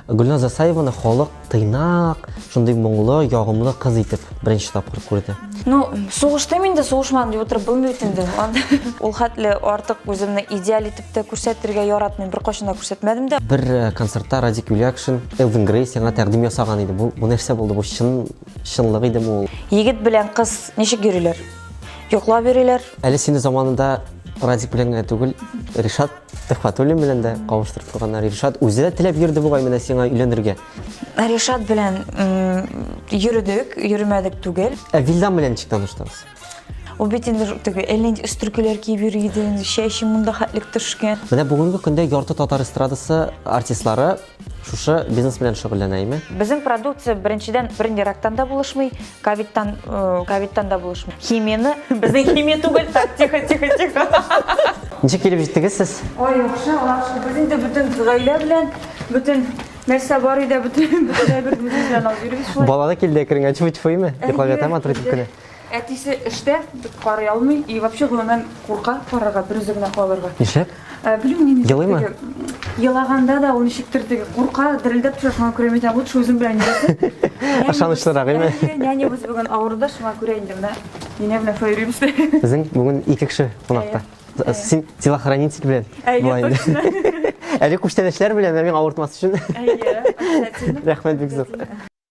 Гөлназ Засаеваны халык тыйнак, шундый моңлы, ягымлы кыз итеп беренче тапкыр күрде. Ну, сугыштым инде, сугышмадым дип утырып булмый бит инде. Ул хәтле артык үземне идеаль итеп тә күрсәтергә яратмыйм, беркайчан да күрсәтмәдем дә. Бер э, концертта Радик Юлякшин Элвин Грей сиңа тәкъдим ясаган иде. Бу, бу нәрсә булды? Бу чын чынлык идеме ул? Егет белән кыз ничек йөриләр? Йоклап йөриләр. Әле сине заманында Радик белән генә түгел, Ришат Төхфәтуллин белән дә кавыштырып куйганнар. Ришат үзе дә теләп йөрде бугай менә сиңа өйләнергә. Ришат белән йөрдек, йөрмәдек түгел. Ә Вилдан белән ничек таныштыгыз? Ул бит инде теге элен өстеркеләр киеп йөри иде, чәче монда хәтлек төшкән. Менә бүгенге көндә ярты татар эстрадасы артистлары Шушы бизнес белән шөгыльләнәйме? Безнең продукция беренчедән брендирактан да булышмый, ковидтан э, ковидтан да булышмый. Химияне безнең химия түгел, так тихо тихо тихо. Ничек килеп җиттегез сез? Ой, яхшы, яхшы. Без инде бөтен гаилә белән, бөтен нәрсә бар иде, бөтен бөтен бер белән алып йөрибез шулай. Балада килде керенгән чуй-чуйме? Йоклап ятам атыр дип кенә. Әтисе эштә, карый алмый и вообще гомумән курка карарга, берүзе генә калырга. Нишләп? Ә, Белмим мин ничек Елыймы? теге, Елаганда да ул ничектер теге курка, дерелдәп төшә, шуңа күрә мин лучше үзем белән йөрәсен. Ышанычлырак, әйме? Әйе, нянябыз бүген авыруда, шуңа күрә инде менә нинә белән шулай йөрибез. Безнең бүген ике кеше кунакта. Әйе. Син телохранитель белән. Әйе, була инде. точно. Әле күчтәнәчләр белән, ә миңа авыртмас өчен. Әйе, обязательно. Рәхмәт бик зур.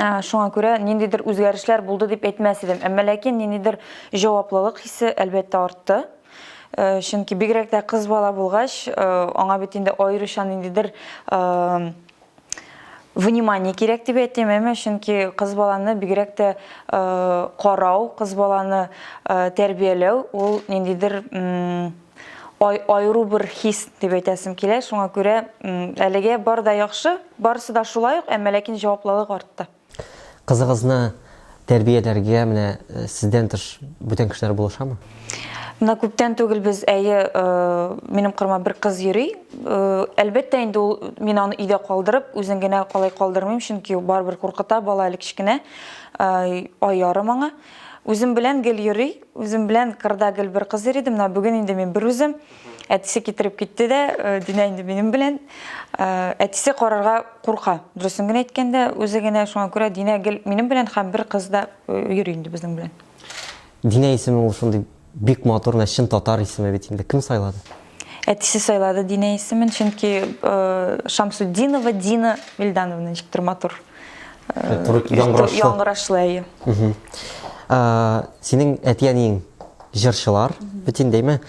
Ә, шуңа күрә ниндидер үзгәрешләр булды дип әйтмәс идем. Әмма ләкин ниндидер җаваплылык хисе әлбәттә артты. Э, чөнки бигрәк тә кыз бала булгач, э, аңа бит инде аеруча ниндидер э, внимание кирәк дип әйтим, әмма чөнки кыз баланы бигрәк тә э, карау, кыз баланы э, тәрбияләү ул ниндидер ай, айру бер хис дип әйтәсем килә. Шуңа күрә әлегә бар да яхшы, барысы да шулай ук, әмма ләкин җаваплылык артты. Кызыгызны тәрбияләргә менә э, сездән тыш бүтән кешеләр булышамы? Менә күптән түгел без әйе, э, минем кырыма бер кыз йөри. Э, әлбәттә инде ул мин аны өйдә калдырып, үзен генә калай калдырмыйм, чөнки барыбер куркыта бала әле кечкенә, ай ярым аңа. Үзем белән гел йөри, үзем белән кырда гел бер кыз йөри иде. Менә бүген инде мин берүзем. Әтисе китереп китте дә, э, Динә инде минем белән. Э, Әтисе карарга курка. Дөресен генә әйткәндә, үзе генә шуңа күрә Динә гел минем белән һәм бер кыз да э, йөри инде безнең белән. Динә исеме ул шундый Бик матур менә чын татар исеме бит инде. Кем сайлады? Әтисе сайлады Динә исемен, чөнки Шамсуддинова Дина Вильдановна ничектер матур. Яңгырашлы. Яңгырашлы әйе. Синең әти-әниең җырчылар бит индеме?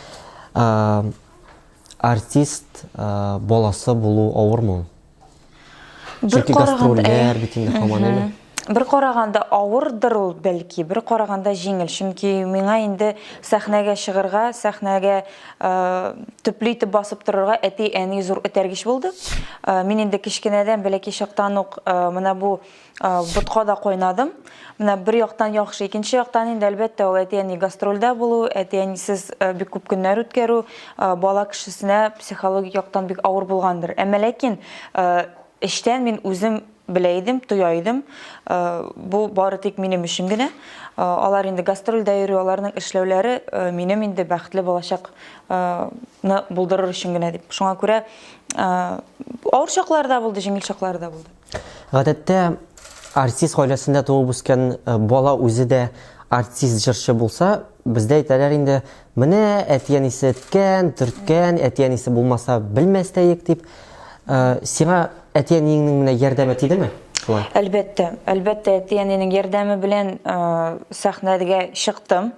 Артист баласы булу авырмы? Бер караганда э, бит инде хаман әле. Бер караганда авырдыр ул бәлки, бер караганда җиңел, чөнки миңа инде сәхнәгә чыгырга, сәхнәгә э, төпле итеп басып торырга әти-әни зур этәргеч булды. Э, мин инде кечкенәдән бәләкәй чактан ук э, менә бу Ботка да кайнадым. Менә бер яктан яхшы, икенче яктан инде әлбәттә ул әти-әни гастрольдә булу, әти-әнисез бик күп көннәр үткәрү бала кешесенә психологик яктан бик авыр булгандыр. Әмма ләкин эчтән мин үзем белә идем, тоя идем. Бу бары тик минем өчен генә. Алар инде гастрольдә йөри, аларның эшләүләре минем инде бәхетле балачакны булдырыр өчен генә дип. Шуңа күрә авыр чаклар да булды, җиңел чаклар да булды. Гадәттә, артист гаиләсендә туып үскән э, бала үзе дә артист җырчы булса, бездә әйтәләр инде, менә әтиәнисе әткән, төрткән, әтиәнисе булмаса белмәс тә ек дип. Э, сиңа әтиәниеңнең менә ярдәме тидеме? Шулай. Әлбәттә, әлбәттә әтиәнинең ярдәме белән э, сәхнәгә чыктым.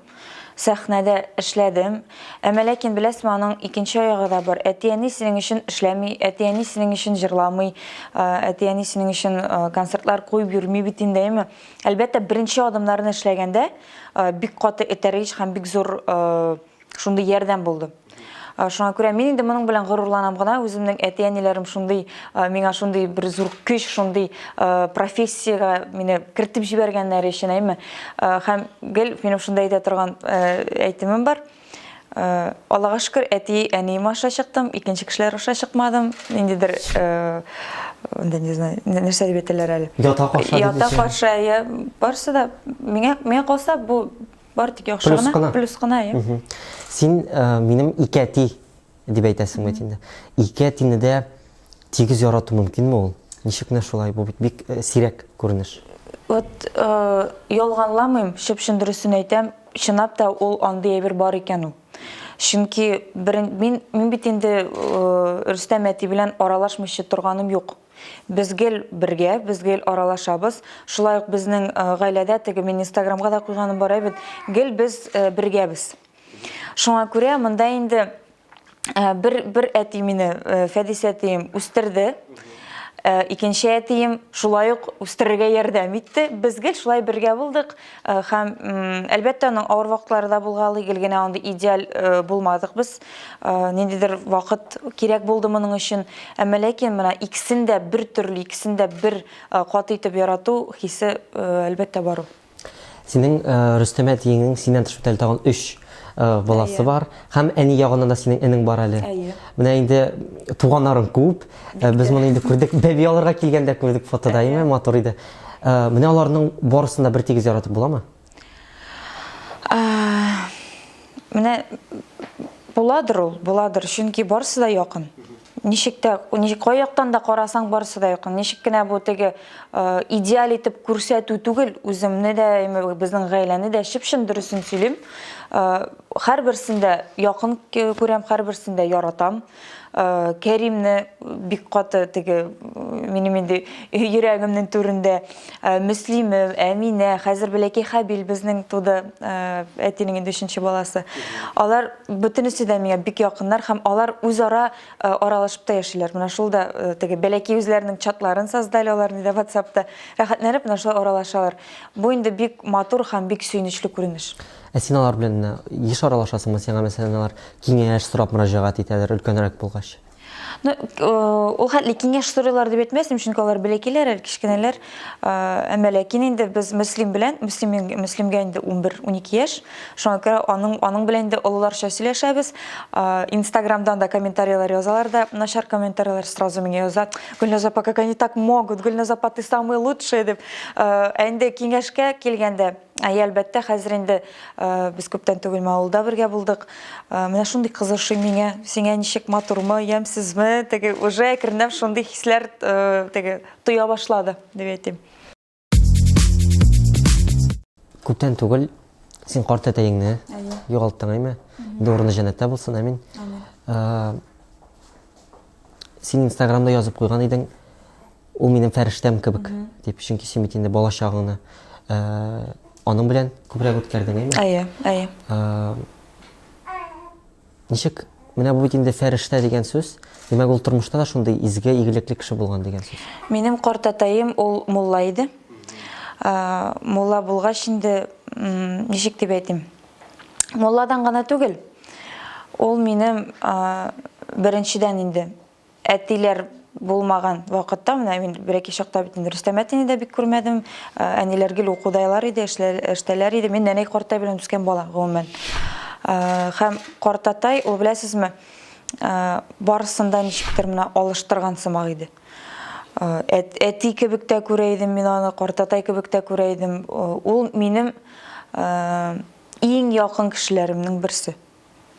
Сәхнәдә эшләдем. Әмма ләкин, беләсме, аның икенче аягы да бар. Әти-әни синең өчен эшләми, әти-әни синең өчен җырламый, әти-әни синең өчен концертлар куеп йөрми бит инде, әйеме? Әлбәттә, беренче адымнарны эшләгәндә бик каты этәргеч һәм бик зур шундый ярдәм булды. Э, шуңа күрә мин инде моның белән горурланам гына үземнең әти әниләрем шундый э, миңа шундый бер зур көч шундый э, профессиягә мине кертеп җибәргәннәре өчен әйме һәм гел минем шунда әйтә торган әйтемем бар аллага шөкер әти әнием аша чыктым икенче кешеләр аша чыкмадым ниндидер анда не знаю нәрсә дип әйтәләр әле ята карша ята карша иә барысы да миңа миңа калса бу Бар тик яхшы плюс гына, кына. плюс кына, я. Угу. Син ә, минем ике әти дип әйтәсең бит инде. Ике әтине дә тигез ярату мөмкинме ул? Ничек менә шулай? Бу бит бик э, сирәк күренеш. Вот э, ялганламыйм, чып-чын дөресен әйтәм, чынлап та ул андый әйбер бар икән ул. Чөнки берен, мин, мин бит инде э, Рөстәм әти белән аралашмыйча торганым юк. Без гел бергә, без гел аралашабыз. Шулай ук безнең э, гаиләдә теге мин Инстаграмга да куйганым бар бит, гел без э, бергәбез. Шуңа күрә монда инде э, бер бер әти мине Фәдис әтием үстерде. Икенче әтием шулай ук үстерергә ярдәм итте. Без гел шулай бергә булдык. Э, һәм әлбәттә аның авыр вакытлары да булгалый гел генә андый идеаль э, булмадык без э, ниндидер вакыт кирәк булды моның өчен әмма ләкин менә икесен дә бер төрле икесен дә бер кат итеп ярату хисе әлбәттә бар ул синең рөстәмә тиеңең синнән тыш бит тагын өч баласы бар һәм әни ягыннан да синең энең бар әле менә инде туганнарың күп Ә, без моны инде күрдек. Бәби алырга килгәндә күрдек фотода, әйме? Матур иде. Ә, менә аларның барысын да бер тигез яратып буламы? Менә буладыр ул, буладыр, чөнки барысы да якын. Ничек тә, ничек кай яктан да карасаң, барысы да якын. Ничек кенә бу теге идеаль итеп күрсәтү түгел, үземне дә, безнең гаиләне дә чып-чын дөресен сөйлим. Һәрберсен дә якын күрәм, һәрберсен дә яратам. Э, кәримне бик каты теге минем инде йөрәгемнең түрендә э, мөслиме әминә хәзер бәләкәй хәбил безнең туды э, әтинең инде өченче баласы алар бөтенесе дә миңа бик якыннар һәм алар үзара аралашып та яшиләр менә шул да теге бәләкәй үзләренең чатларын создали алар инде ватсапта рәхәтләнеп менә шулай аралашалар бу инде бик матур һәм бик сөенечле күренеш Ә син алар белән менә еш аралашасыңмы? Сиңа мәсәлән алар киңәш сорап мөрәҗәгать итәләр өлкәнрәк булгач? Ну, э, ул хәтле киңәш сорыйлар дип әйтмәсем, чөнки алар бәләкиләр, әле кечкенәләр. Э, әмма ләкин инде без Мөслим белән, Мөслим Мөслимгә инде 11-12 яшь. Шуңа күрә аның аның белән инде олыларча сөйләшәбез. Э, Инстаграмдан да комментарийлар язалар да, начар комментарийлар сразу миңа яза. Гөлназа, как они так могут? Гөлназа, ты самый лучший дип. Ә инде киңәшкә килгәндә, Әйе, әлбәттә, хәзер инде без күптән түгел Маулда бергә булдык. Менә шундый кызышый миңа, сиңа ничек матурмы, ямьсезме, теге уже әкренләп шундый хисләр теге тоя башлады, дип әйтим. Күптән түгел син карт әтәеңне югалттың, әйме? Инде урыны җәннәттә булсын, әмин. Амин. Син инстаграмда язып куйган идең, ул минем фәрештәм кебек, дип, чөнки син бит инде балачагыңны ә, аның белән күбрәк үткәрдең, әйме? Әйе, әйе. Ә, ничек, менә бу бит инде фәрештә дигән сүз, димәк ул тормышта да шундый изге, игелекле кеше булган дигән сүз. Минем картатаем ул мулла иде. Ә, мулла булгач инде, ничек дип әйтим, Мулладан гына түгел, ул минем беренчедән инде әтиләр булмаган вакытта, менә мин берәки чакта бит инде Рөстәм әтине дә бик күрмәдем, әниләр гел укудайлар иде, эштәләр иде, мин нәнәй картай белән үскән бала, гомумән. Һәм картатай, ул беләсезме, барысын да ничектер менә алыштырган сымак иде. Әти кебек тә күрә идем мин аны, картатай кебек тә күрә идем. Ул минем иң якын кешеләремнең берсе.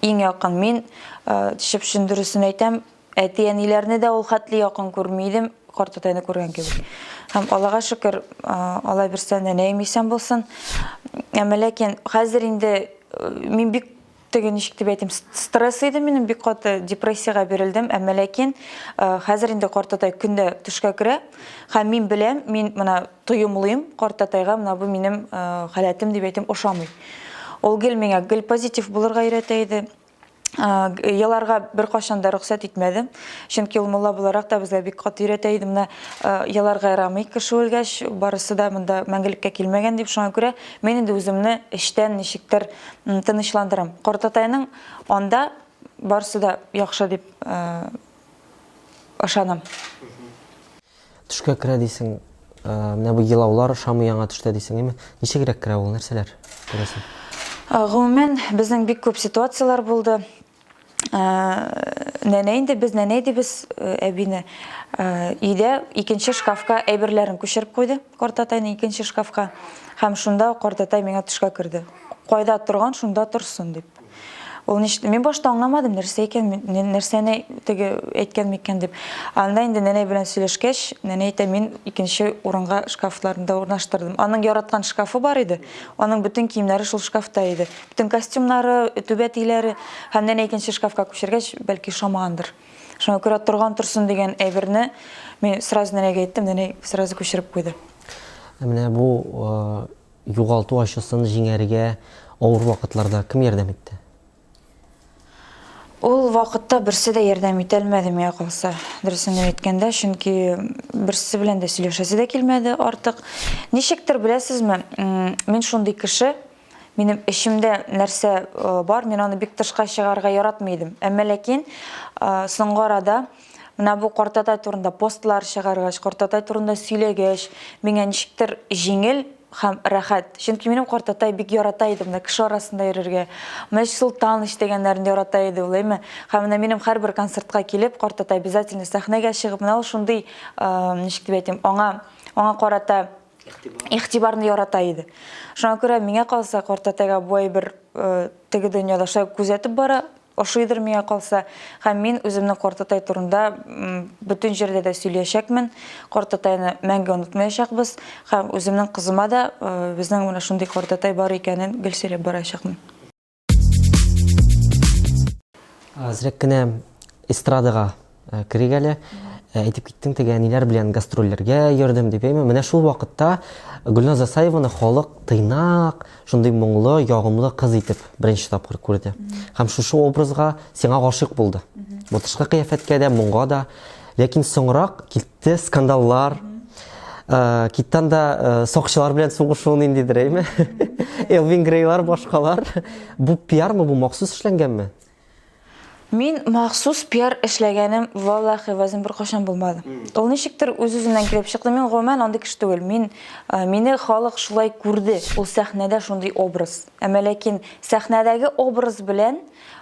Иң якын. Мин чып-чын дөресен әйтәм, әти-әниләрне дә ул хәтле якын күрми идем, картатайны күргән кебек. Һәм Аллага шөкер, алай берсә нәнәем исән булсын. Әмма ләкин хәзер инде мин бик Теге ничек дип әйтим, стресс иде минем бик каты, депрессиягә бирелдем, әмма ләкин э, хәзер инде картатай көндә төшкә керә һәм мин беләм, мин менә тоемлыйм картатайга, менә бу минем э, халәтем дип әйтим, ошамый. Ул гел миңа гел позитив булырга өйрәтә иде. Еларга бер кашан да рөхсәт итмәдем. Чөнки ул мулла буларак та безгә бик каты өйрәтә иде. Менә еларга ярамый кеше үлгәч, барысы да монда мәңгелеккә килмәгән дип шуңа күрә мин инде үземне эчтән ничектер Тынычландырам. Картатайның анда барсы да яхшы дип ышанам. Төшкә керә дисең, менә бу елаулар ошамый яңа төштә дисең, әйме? Ничегрәк керә ул, нәрсәләр күрәсең? Гомумән, безнең бик күп ситуацияләр булды. Нәнә инде без нәнә әйдибез әбине. Өйдә икенче шкафка әйберләрен күчереп куйды, картатайны икенче шкафка. Һәм шунда картатай миңа төшкә керде. Кайда торган, шунда торсын дип. Ул ништ, мин башта аңламадым, нәрсә икән, нәрсәне теге әйткән микән дип. Анда инде нәнәй белән сөйләшкәч, нәнәй әйтә, мин икенче урынга шкафларында урнаштырдым. Аның яраткан шкафы бар иде, аның бөтен киемнәре шул шкафта иде. Төн костюмнары, түбә тиләре һәм нәнә икенче шкафка күчергәч, бәлки шамагандыр. Шуңа күрә торган торсын дигән әйберне мин сразу нәнәгә әйттем, нәнәй сразу күчереп куйды. Менә бу югалту ачысын җиңәргә авыр вакытларда кем ярдәм итте? Ул вакытта берсе дә ярдәм итә алмады миңа калса. Дөресен генә әйткәндә, чөнки берсе белән дә сөйләшәсе дә килмәде артык. Ничектер, беләсезме, мин шундый кеше, Минем эчемдә нәрсә бар, мин аны бик тышка чыгарга яратмый идем. Әмма ләкин соңгы арада менә бу картатай турында постлар чыгаргач, картатай турында сөйләгәч, миңа ничектер җиңел һәм рәхәт. Чөнки минем картатай бик ярата иде менә кеше арасында йөрергә. Менә Солтан дигәннәрен ярата иде ул, әйме? Һәм менә минем һәрбер концертка килеп, картатай обязательно сәхнәгә чыгып, менә ул шундый, ничек дип әйтим, аңа аңа карата игътибарны ярата иде. Шуңа күрә миңа калса, картәтәгә бу әйбер теге дөньядаша күзәтеп бара, ошыйдыр миңа калса, һәм мин үземнең картәтәй турында бөтен җирдә дә сөйләячәкмен. Картәтәйне мәңге онытмаячакбыз һәм үземнең кызыма да безнең менә шундый картәтәй бар икәнен гел сөйләп барачакмын. Әзрәк кенә эстрадага э, керик әле. Э, әйтеп киттең теге әниләр белән гастрольләргә йөрдем дип әйме. Менә шул вакытта Гөлназ Асаеваны халык тыйнак, шундый моңлы, ягымлы кыз итеп беренче тапкыр күрде. Һәм шушы образга сиңа гашык булды. Бу тышкы кыяфәткә дә, моңга да. Ләкин соңрак Те скандаллар, киттан да сакчылар белән сугышу ниндидер, әйме? Элвин Грейлар, башкалар. Бу пиармы, бу махсус эшләнгәнме? Мин махсус пиар эшләгәнем валлахи вазим бер кашан булмады. Ул ничектер үз-үзеннән килеп чыкты. Мин гомумән андый кеше түгел. Мин мине халык шулай күрде. Ул сәхнәдә шундый образ. Әмма ләкин сәхнәдәге образ белән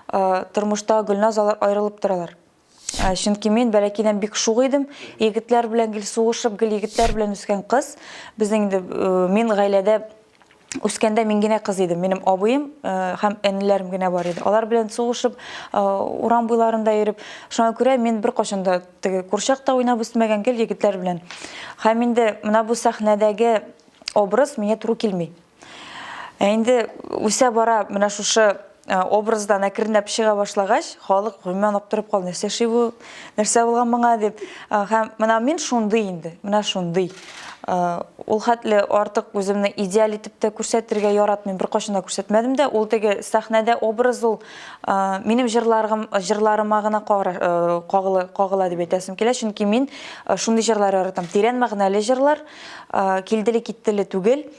тормышта Гөлназ алар аерылып торалар. Ә, Чөнки мин бәләкәйдән бик шук идем. Егетләр белән гел сугышып, гел егетләр белән үскән кыз. Безнең инде э, мин гаиләдә үскәндә мин генә кыз идем. Минем абыем э, һәм энеләрем генә бар иде. Алар белән сугышып, э, урам буйларында йөреп, шуңа күрә мин беркайчан да теге курчакта уйнап үсмәгән гел егетләр белән. Һәм инде менә бу сәхнәдәге образ миңа туры килми. Ә инде үсә бара менә шушы Э, образдан әкренләп чыга башлагач халык гомумән аптырап калды нәрсә эшли бу нәрсә булган моңа дип э, һәм менә мин шундый инде менә шундый э, ул хәтле артык үземне идеаль итеп тә күрсәтергә яратмыйм беркайчан да күрсәтмәдем дә ул теге сәхнәдә образ ул минем җырларым җырларыма гына кагыла, кагыла дип әйтәсем килә чөнки мин шундый җырлар яратам тирән мәгънәле җырлар килделе киттеле түгел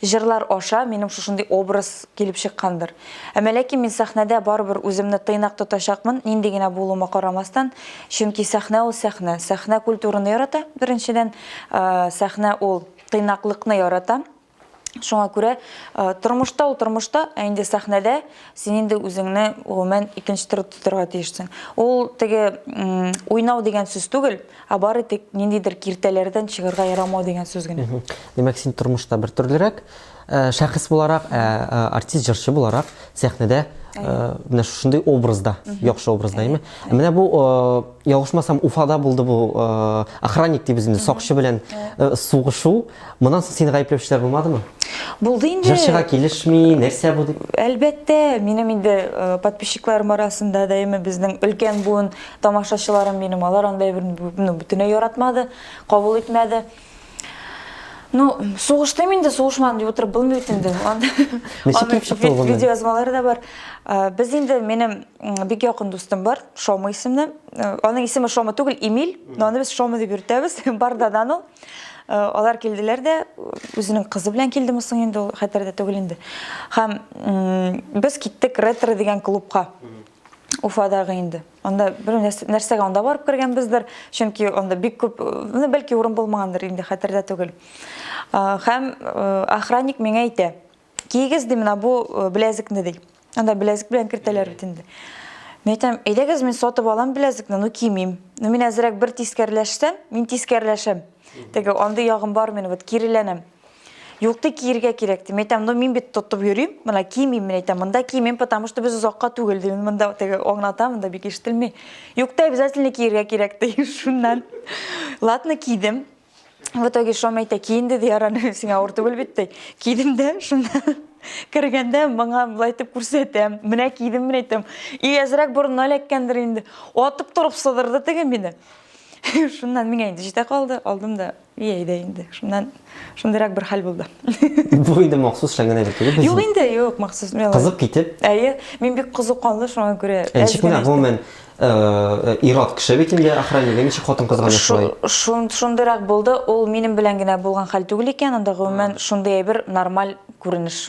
Җырлар аша минем шушындый образ килеп чыккандыр. Әмма ләкин мин сәхнәдә барыбер үземне тыйнак тотачакмын, нинди генә булуыма карамастан, чөнки сәхнә ул сәхнә. Сәхнә культураны ярата, беренчедән, сәхнә ул тыйнаклыкны ярата. Шуңа күрә тормышта ул тормышта, ә инде сәхнәдә син инде үзеңне гомумән икенче төрле тотырга тиешсең. Ул теге уйнау дигән сүз түгел, Ә бары тик ниндидер киртәләрдән чыгарга ярамау дигән сүз генә. Димәк, син тормышта бер төрлерәк э, шәхес буларак, ә э, э, артист, җырчы буларак сәхнәдә менә шушындый образда, яхшы образда, әйме? Менә бу ялгышмасам Уфада булды бу охранник дип үзендә сакчы белән сугышу. Моннан соң сине гаепләүчеләр булмадымы? Булды инде. Җырчыга килешми, нәрсә бу дип? Әлбәттә, минем инде подписчикларым арасында да әйме безнең өлкән буын Тамашачыларым минем, алар анда әйберне ну, бөтенләй яратмады, кабул итмәде. Ну, сугыштым инде, сугышмадым дип утырып булмый бит инде. Видео язмалары да бар. Э, без инде минем бик якын дустым бар, Шома исемле. Э, аның исеме Шома түгел, Эмиль, но аны без Шома дип йөртәбез. Бардадан ул. Э, алар килделәр дә, үзенең кызы белән килдеме соң инде ул, хәтердә түгел инде. Һәм без киттек ретро дигән клубка. Уфадагы инде. Анда бер нәрсәгә анда барып кергәнбездер, чөнки анда бик күп, ну, бәлки урын булмагандыр инде, хәтердә түгел. Хәм охранник миңа әйтә, кигез ди менә бу беләзекне ди. Анда беләзек белән кертәләр бит инде. Мин әйтәм, әйдәгез мин сатып алам беләзекне, ну кимим. Ну мин әзрәк бер тискәрләшсәм, мин тискәрләшәм. Теге андый ягым бар минем, вот киреләнәм. Юкты киергә кирәк дим. Әйтәм, ну мин бит тотып йөрим, менә кимим, мин әйтәм, монда кимим, потому что без озакка түгел дим. Монда теге аңлата, монда бик ишетелми. Юкты обязательно киергә кирәк ди. Шуннан. Ладно, кидем. В итоге шом әйтә, ки инде ди, араны сиңа авыр түгел бит ди. Кидем дә, шуннан кергәндә маңа былай итеп күрсәтәм. Менә кидем, мин әйтәм. И әзрәк борынына эләккәндер инде. Атып торып сыдырды теге мине. Шуннан миңа инде җитә калды, алдым да И әйдә инде, шуннан шундыйрак бер хәл булды. Бу инде махсус шәңгәнә бер түгел. Юк инде, юк, махсус. Кызып китеп. Әйе, мин бик кызу канлы, шуңа күрә. Ничек менә гомумән ир-ат кеше бит инде охранник, ничек хатын-кызга да шулай? Шундыйрак булды, ул минем белән генә булган хәл түгел икән, анда гомумән шундый әйбер нормаль күренеш.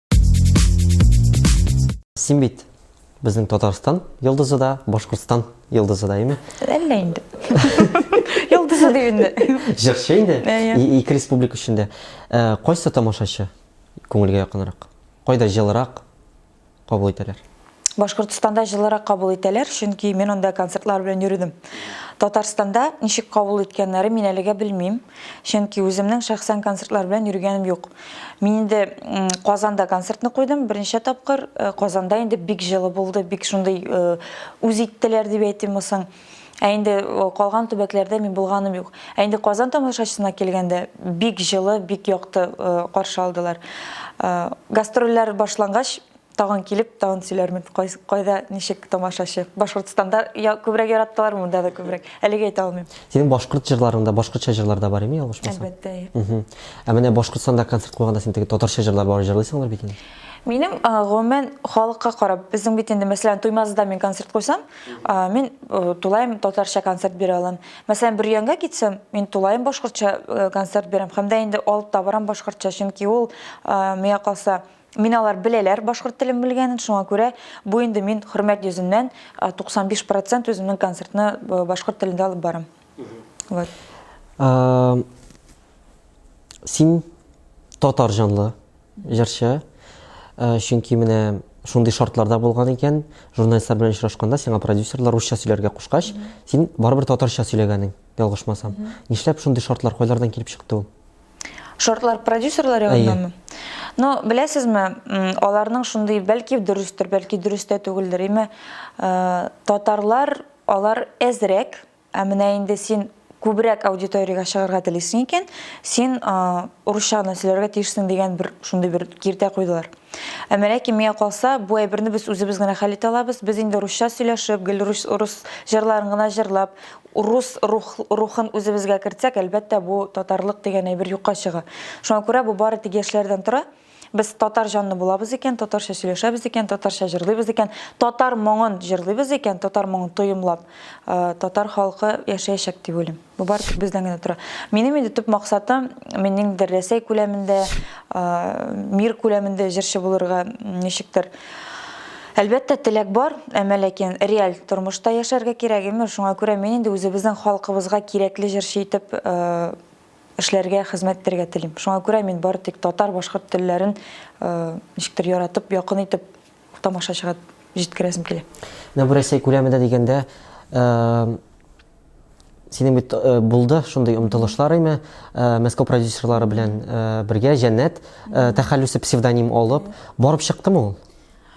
Син бит безнең Татарстан йолдызы да, Башкортстан йолдызы да, әйме? Әллә инде. Йолдызы дип инде. Җырчы инде. Ике республика эчендә. Кайсы тамашачы күңелгә якынрак? Кайда җылырак кабул итәләр? Башкортостанда җылырак кабул итәләр, чөнки мин анда концертлар белән йөрдем. Татарстанда ничек кабул иткәннәре мин әлегә белмим, чөнки үземнең шәхсән концертлар белән йөргәнем юк. Мин инде Казанда концертны куйдым, беренче тапкыр. Э, Казанда инде бик җылы булды, бик шундый э, үз иттеләр дип әйтим соң. Ә инде э, калган төбәкләрдә мин булганым юк. Ә инде Казан тамашачысына килгәндә бик җылы, бик якты каршы алдылар. Гастрольләр башлангач, Тагын килеп, тагын сөйләрмен, кайда, ничек тамашачы. Башкортстанда я, күбрәк яраттылар, монда да күбрәк. Әлегә әйтә алмыйм. Синең башкорт җырларыңда башкортча җырлар да бар име, ялгышмасам? Әлбәттә. Угу. Ә менә Башкортстанда концерт куйганда син теге татарча җырлар бар җырлыйсыңдыр бит инде. Минем гомумән халыкка карап, безнең бит инде мәсәлән Туймазыда мин концерт куйсам, мин тулаем татарча концерт бирә алам. Мәсәлән, Бөрьянга китсәм, мин тулаем башкортча концерт бирәм. Һәм дә инде алып та барам башкортча, чөнки ул миңа калса Мин алар беләләр башкорт телен белгәнен, шуңа күрә бу инде мин хөрмәт йөзеннән 95 процент үземнең концертны башкорт телендә алып барам. Вот. Син татар җанлы җырчы, чөнки менә шундый шартларда булган икән, журналистлар белән очрашканда сиңа продюсерлар русча сөйләргә кушкач, син барыбер татарча сөйләгәнең, ялгышмасам. Нишләп шундый шартлар, кайлардан килеп чыкты ул? Шортлар продюсерлар ягыннанмы? Но беләсезме, аларның шундый, бәлки дөрестер, бәлки дөрестә түгелдер, име э, татарлар алар әзрәк, ә менә инде син күбрәк аудиториягә чыгарга телисең икән, син э, урысчаны сөйләргә тиешсең дигән бер шундый бер киртә куйдылар. Ә ләкин миңа калса, бу әйберне без үзебез генә хәл итә алабыз. Без инде русча сөйләшеп, гел рус, рус җырларын гына җырлап, Урус рух, рухын үзебезгә кертсәк, әлбәттә, бу татарлык дигән әйбер юкка чыга. Шуңа күрә бу бары тик яшьләрдән тора. Без татар җанлы булабыз икән, татарча сөйләшәбез икән, татарча җырлыйбыз икән, татар моңын җырлыйбыз икән, татар моңын тоемлап, татар халкы яшәячәк дип уйлыйм. Бу бары тик бездән генә тора. Минем инде төп максатым, мин ниндидер Рәсәй күләмендә, мир күләмендә җырчы булырга ничектер Әлбәттә, теләк бар, әмма ләкин реаль тормышта яшәргә кирәк, имеш. Шуңа күрә мин инде үзебезнең халкыбызга кирәкле җырчы итеп эшләргә, хезмәт итәргә телим. Шуңа күрә мин бары тик татар, башкорт телләрен ничектер яратып, якын итеп тамашачыга җиткерәсем килә. Менә бу Рәсәй күләмендә дигәндә, Синең бит э, булды шундый омтылышлар име э, Мәскәү продюсерлары белән э, бергә Җәннәт тәхәллүсе псевдоним алып барып чыктым ул.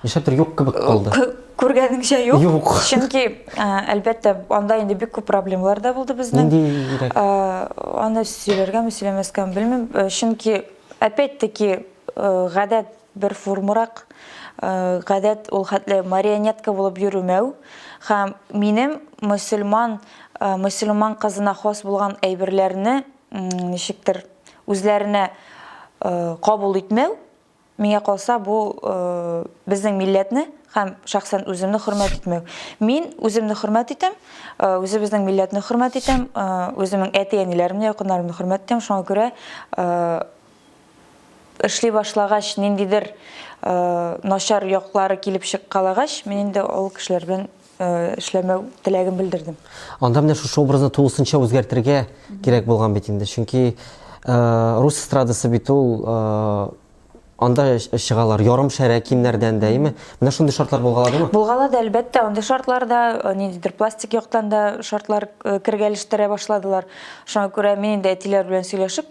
Нишләптер юк кебек калды. Күргәнеңчә юк. Юк. Чөнки әлбәттә анда инде бик күп проблемалар да булды безнең. Ниндирәк? Аны сөйләргәме, сөйләмәскәме белмим. Чөнки опять-таки гадәт Бер формурак гадәт ул хәтле марионетка булып йөремәү һәм минем мөселман мөселман кызына хас булган әйберләрне ничектер үзләренә кабул итмәү, миңа калса, бу безнең милләтне һәм шәхсән үземне хөрмәт итмәү. Мин үземне хөрмәт итәм, үзебезнең милләтне хөрмәт итәм, үземнең әти-әниләремне, якыннарымны хөрмәт итәм, шуңа күрә Эшли башлагач, ниндидер начар яклары килеп чыккалагач, мин инде ул кешеләр белән эшләмәү теләген белдердем. Анда менә шушы образны тулысынча үзгәртергә кирәк булган бит инде. Чөнки рус эстрадасы бит ул анда чыгалар ярым шәрә кимнәрдән дә, име? Менә шундый шартлар булгаладымы? Булгалады, әлбәттә, андый шартларда э, ниндидер пластик яктан да шартлар э, кергәлештерә башладылар. Шуңа күрә мин инде әтиләр белән сөйләшеп,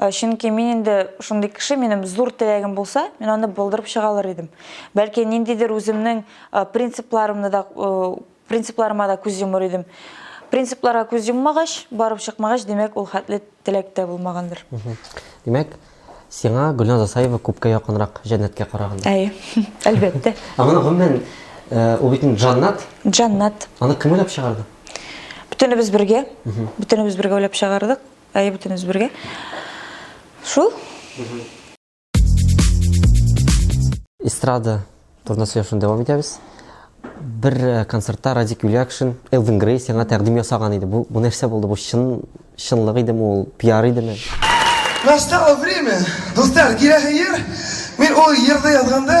Э, чөнки мин инде шундый кеше минем зур теләгем булса мин аны булдырып чыга алыр идем бәлки ниндидер үземнең э, принципларымны да э, принципларыма да күз йомыр идем принципларга күз йоммагач барып чыкмагач димәк ул хәтле теләктә булмагандыр димәк сиңа гөлназ асаева күпкә якынрак җәннәткә караганда әйе әлбәттә ә моны гомумән ул бит җаннат җаннат аны кем уйлап чыгарды бөтенебез бергә бөтенебез бергә уйлап чыгардык Әйе, бөтенебез бергә. Шул. Эстрада турында сөйләшүне дәвам итәбез. Бер э, концертта Радик Юлякшин, Элвин Грей сиңа тәкъдим ясаган иде. Бу, бу нәрсә булды? Бу чын чынлык идеме ул? Пиар идеме? Настало время. Дуслар, киләсе ел мин ул җырны язганда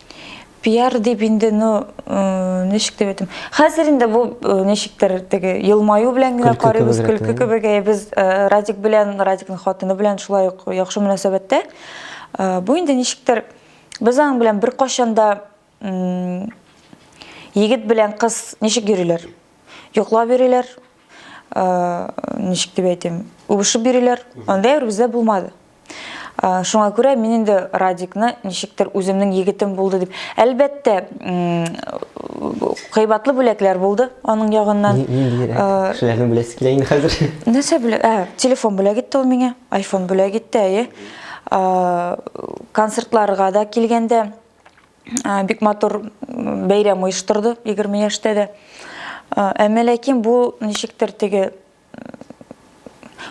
пиар дип инде ну э, ничек дип әйтим хәзер инде бу э, ничектер теге елмаю белән генә карыйбыз көлке кебек ә без э, радик белән радикның хатыны белән шулай ук яхшы мөнәсәбәттә бу инде ничектер без аның белән бер кашанда егет белән кыз ничек йөриләр йоклап йөриләр ничек дип әйтим үбешеп бириләр анда әр бездә булмады шуңа күрә мин инде радикны ничектер үземнең егетем булды дип әлбәттә кыйбатлы бүләкләр булды аның ягыннан шуларны беләсе килә инде хәзер нәрсә бүләк ә телефон бүләк итте ул миңа айфон бүләк итте әйе концертларга да килгәндә бик матур бәйрәм оештырды 20 яшьтә дә әмма ләкин бу ничектер теге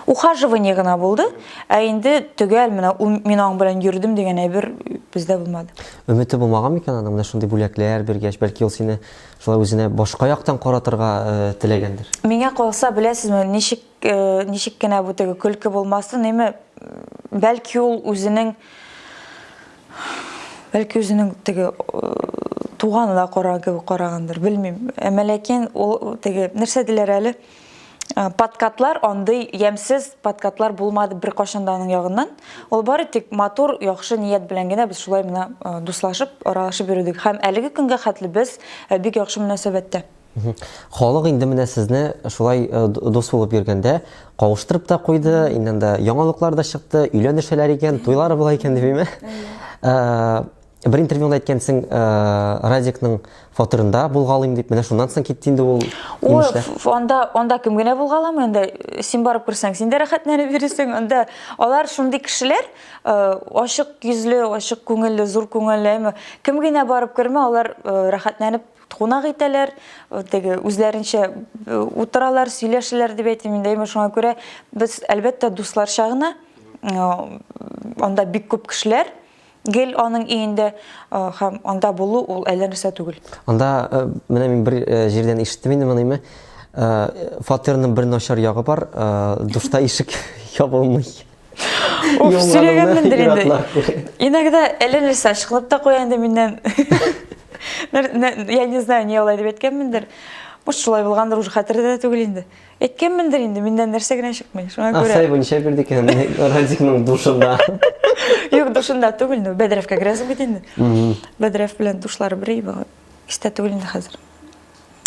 ухаживание гына булды ә инде төгәл менә мин аң белән йөрдем дигән әйбер бездә булмады өмете булмаган микән аның менә шундый бүләкләр биргәч бәлки ул сине шулай үзенә башка яктан каратырга теләгәндер миңа калса беләсезме ничек э, ничек кенә бу теге көлке булмасын, әмма бәлки ул үзенең бәлки үзенең теге э, туганына карагандыр, белмим. Әмма ләкин ул теге нәрсә диләр әле? Э, подкатлар андый ямсыз подкатлар булмады бер кашан да аның ягыннан. Ул бары тик матур, яхшы ният белән генә без шулай менә э, дуслашып, аралашып йөрдек. Һәм әлеге көнгә хәтле без бик яхшы мөнәсәбәттә. Халык инде менә сезне шулай э, дус булып йөргәндә кавыштырып та куйды, иннән дә яңалыклар да чыкты, өйләнешәләр икән, туйлары була икән димме? Э, бер интервьюда әйткәнсең, э, Радикның фатирында булгалыйм дип, менә шуннан соң китте инде ул. Ой, анда анда кем генә булгалам инде. Син барып күрсәң, син дә рәхәтләнеп йөрисең. Анда алар шундый кешеләр, ачык йөзле, ачык күңелле, зур күңелле. Кем генә барып кермә, алар рәхәтләнеп кунак итәләр, теге үзләренчә утыралар, сөйләшәләр дип әйтим инде. Әмма шуңа күрә без әлбәттә дусларча гына анда бик күп кешеләр гел аның өендә һәм анда булу ул әллә нәрсә түгел. Анда менә мин бер җирдән ишеттем инде моны, фатирның бер начар ягы бар, душта ишек ябылмый. Уф, сөйләгәнмендер инде. Иногда әле сачкылып та куя инде миннән. Я не знаю, не алай дип әйткәнмендер. Может, шулай булгандыр, уже хәтердә дә түгел инде. Әйткәнмендер инде, миннән нәрсә генә чыкмый. Шуңа күрә. Асай бу ничә бирде икән Радикның душында? Юк, душында түгел, ну, Бәдрәфкә керәсең бит инде. Бәдрәф белән душлары бер иде. Истә түгел инде хәзер.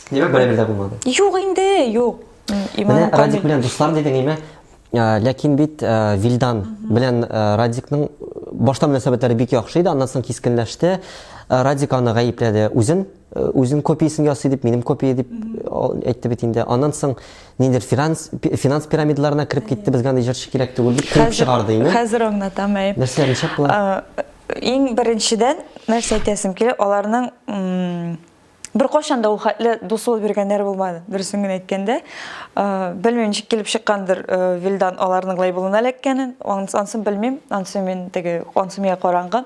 Димәк, бер дә булмады. Юк инде, юк. Менә Радик белән дуслар дидең, әйме? Ләкин бит Вилдан белән Радикның башта мөнәсәбәтләре бик яхшы иде, аннан соң кискенләште. Радик аны гаепләде үзен, үзен копиясен ясый дип, минем копия дип әйтте бит инде. Аннан соң нидер финанс финанс пирамидаларына кереп китте, безгә андый җырчы кирәк түгел дип килеп чыгарды инде. Хәзер аңлатам, әй. Нәрсә ничә кыла? Иң беренчедән нәрсә әйтәсем килә, аларның Беркайчан да ул хәтле дуслык биргәннәр булмады, дөресен генә әйткәндә. Белмим, ничек килеп чыккандыр Вилдан аларның лейблына эләккәнен. Ансын белмим, ансы мин теге, ансы миңа караңгы.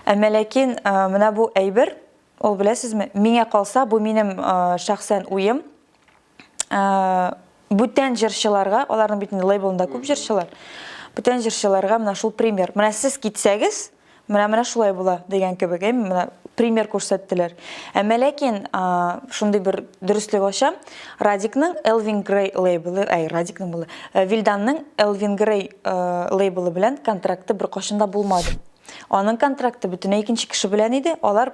Әмма ләкин менә бу әйбер, ул беләсезме, миңа калса, бу минем шәхсән уем. бүтән җырчыларга, аларның бит инде лейблында күп җырчылар, бүтән җырчыларга менә шул пример. Менә сез китсәгез, менә менә шулай була дигән кебек, әй, менә пример күрсәттеләр. Әмма ләкин шундый бер дөреслек ачам, Радикның Элвин Грей лейблы, әй, Радикның булды, э, Вильданның Элвин Грей э, лейблы белән контракты бер кашында булмады. Аның контракты бөтенләй икенче кеше белән иде, алар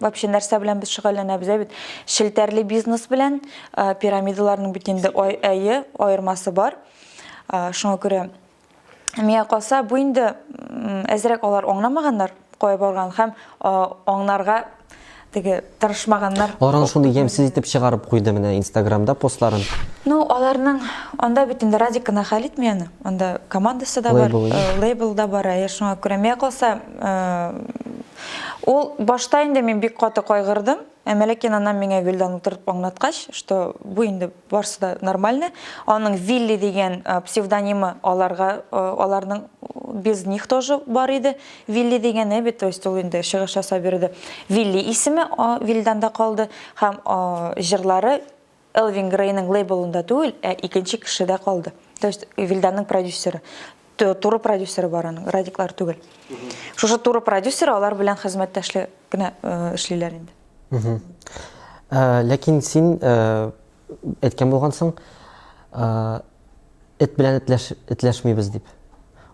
Вообще нәрсә белән без шөгыльләнәбез ә бит? Челтәрле бизнес белән э, пирамидаларның бит инде ай- әйе аермасы бар. Э, Шуңа күрә миңа калса бу инде м, әзрәк алар аңламаганнар кая барган һәм э, аңнарга теге тырышмаганнар. Аран шуны ямьсез итеп чыгарып куйды менә инстаграмда постларын. Ну, аларның анда бит инде Радик кына хәл итми аны. Анда командасы да бар, Лейбл, э, лейбл да бар. Ә шуңа күрә миңа калса, э, Ул башта инде мин бик каты кайгырдым, ә Мәләкин анам миңа Вилдан утыртып аңлаткач, что бу инде барсы да нормально. Аның Вилли дигән псевдонимы аларга, аларның без них тоже бар иде. Вилли дигән әбит, то есть ул инде чыгыш ясап йөрде. Вилли исеме Вилданда калды һәм җырлары Элвин Грейның лейблында түгел, ә икенче кешедә калды. То есть Вильданның продюсеры, туры продюсеры бар аның, Радиклар түгел. Шушы туры продюсеры алар белән хезмәттәшлек кенә э, эшлиләр инде. Э, ләкин син э, әйткән булгансың, Эт белән этләш, этләшмибез дип.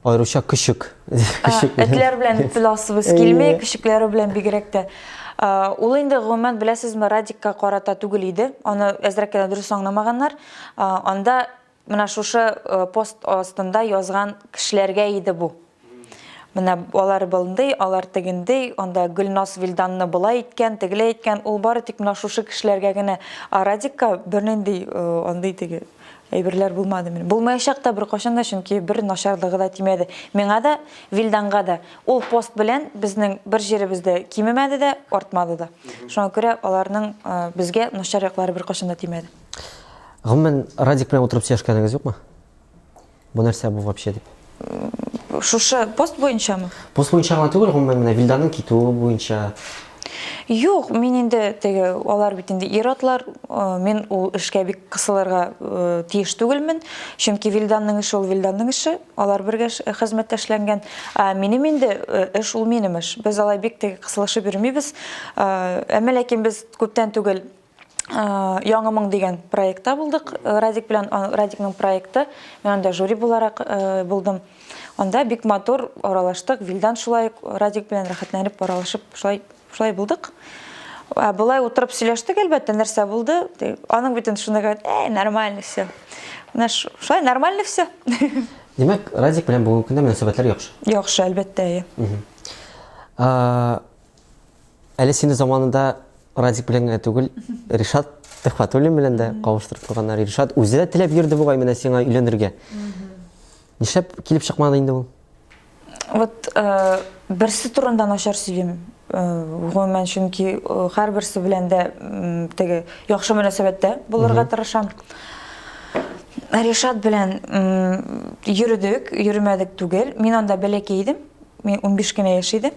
Аеруча көчек. Күшек белән. Этләр белән этләсебез килми, күшекләре белән бигрәк тә. Ул инде гомумән беләсезме, Радикка карата түгел иде. Аны әзрәк кенә дөрес аңламаганнар. Анда менә шушы пост астында язган кешеләргә иде бу. Менә алар былндый, алар тегендый, анда Гөлназ Вилданны болай әйткән, тегеләй әйткән, ул бары тик менә шушы кешеләргә генә, ә Радикка бернинди э, андый теге әйберләр булмады мин. Булмаячак та беркайчан да, чөнки бер начарлыгы да тимәде. Миңа да, Вилданга да. Ул пост белән безнең бер җиребез дә кимемәде дә, артмады да. Шуңа күрә аларның э, безгә начар яклары беркайчан да тимәде. Гомумән, Радик белән утырып сөйләшкәнегез юкмы? Бу нәрсә бу вообще дип. Шушы пост буенчамы? Пост буенча гына түгел, гомумән менә Вильданың китүе буенча. Юк, мин инде теге алар бит инде ир-атлар, э, мин ул эшкә бик кысылырга э, тиеш түгелмен, чөнки Вильданның эше ул Вильданның эше, алар бергә хезмәттәшләнгән. Ә минем инде э, эш ул минем эш. Без алай бик теге кысылышып йөрмибез. Әмма ләкин без күптән түгел Яңы моң дигән проектта булдык. Радик белән Радикның проекты. Мин анда жюри буларак булдым. Анда бик матур аралаштык. Вилдан шулай Радик белән рәхәтләнеп аралашып, шулай шулай булдык. Ә болай утырып сөйләштек, әлбәттә, нәрсә булды? Аның бит инде шунда гәт, "Эй, нормально все". Менә шулай нормально все. Димәк, Радик белән бүгенге көндә мөнәсәбәтләр яхшы. Яхшы, әлбәттә, әйе. Әле сине заманында Радик белән генә түгел, Ришат Төхвәтуллин белән дә кавыштырып куйганнар. Ришат үзе дә теләп йөрде бугай менә сиңа өйләнергә. Нишләп килеп чыкмады инде ул? Вот э, берсе турында начар сөйлим. Э, гомумән, чөнки э, һәрберсе белән дә теге яхшы мөнәсәбәттә булырга тырышам. Ришат белән йөрдек, йөрмәдек түгел. Мин анда бәләкәй идем. Мин 15 кенә яшь идем.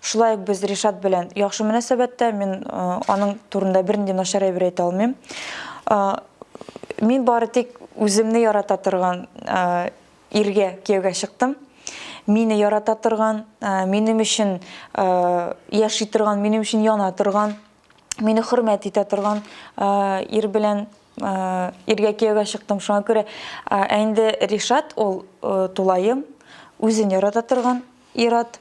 Шулай ук без Ришат белән яхшы мөнәсәбәттә, мин аның турында бернинди начар әйбер әйтә алмыйм. Мин бары тик үземне ярата торган иргә кияүгә чыктым. Мине ярата торган, минем өчен яши торган, минем өчен яна торган, мине хөрмәт итә торган ир белән иргә кияүгә чыктым. Шуңа күрә ә инде Ришат ул тулаем үзен ярата торган, Ир-ат,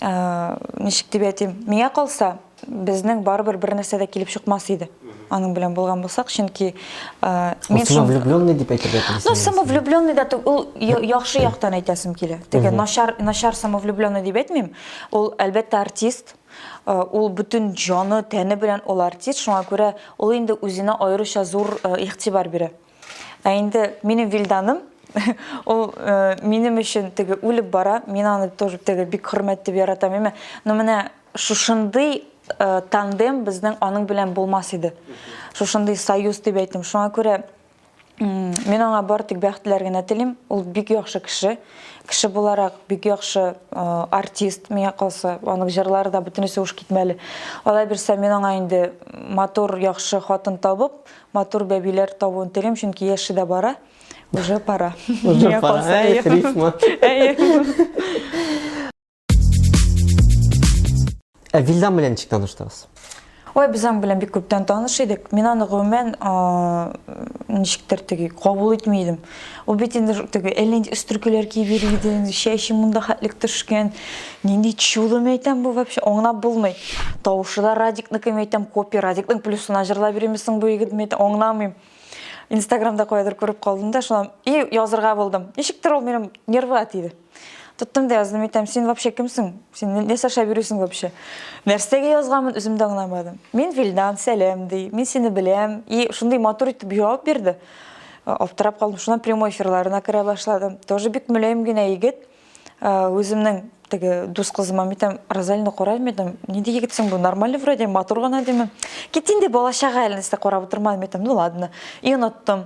ничек дип әйтим, миңа калса, безнең барыбер бер нәрсә дә килеп чыкмас иде. Аның белән булган булсак, чөнки мин шул влюбленный дип әйтергә телисең. Ну, самовлюбленный да түгел, ул яхшы яктан әйтәсем килә. Теге начар, начар самовлюбленный дип әйтмим. Ул әлбәттә артист. Ул бүтән җаны, тәне белән ул артист, шуңа күрә ул инде үзенә аеруча зур игътибар бирә. Ә инде минем Вилданым, ул э, минем өчен теге үлеп бара, мин аны тоже теге бик хөрмәт дип яратам, әмма ну менә шушындый э, тандем безнең аның белән булмас иде. Шушындый союз дип әйтим. Шуңа күрә мин аңа бар тик бәхетләр генә телим. Ул бик яхшы кеше. Кеше буларак бик яхшы э, артист миңа калса, аның җырлары да бөтенесе уш китмәле. Алай бирсә мин аңа инде матур, яхшы хатын табып, Матур бәбиләр табуын телим, чөнки яше дә бара. Уже пора. Уже Миңа пора. калса, Әй, әйе. рифма. Әйе. Ә Вилдан белән ничек таныштыгыз? Ой, без аның белән бик күптән таныш идек. Мин аны гомумән а, ничектер теге кабул итми идем. Ул бит инде теге әллә нинди өстеркеләр киеп йөри иде, инде чәче монда хәтлек төшкән. Нинди чудо мәйтәм бу вообще, аңлап булмый. Тавышы да Радикныкы мәйтәм, копия Радикның плюсына җырлап йөрими соң бу егет мәйтәм, аңламыйм. Инстаграмда каядыр күреп калдым да, шуннан и язырга булдым. Ничектер ул минем нервга тиде. Тоттым да яздым, әйтәм, син вообще кемсең? Син не саша бирүсең вообще? Нәрсәгә язганмын, үзем дә аңламадым. Мин Вилдан, сәлам ди. Мин сине беләм. И шундый матур итеп җавап бирде. Аптырап калдым. Шуннан прямой эфирларына керә башладым. Тоже бик мөлаем генә егет. Үземнең теге дус кызыма әйтәм, Розалина карайм әйтәм, нинди егетсең бу? Нормальный вроде, матур гына димен. Кит инде балачага әле нәрсә карап утырмадым әйтәм. Ну ладно. И оныттым.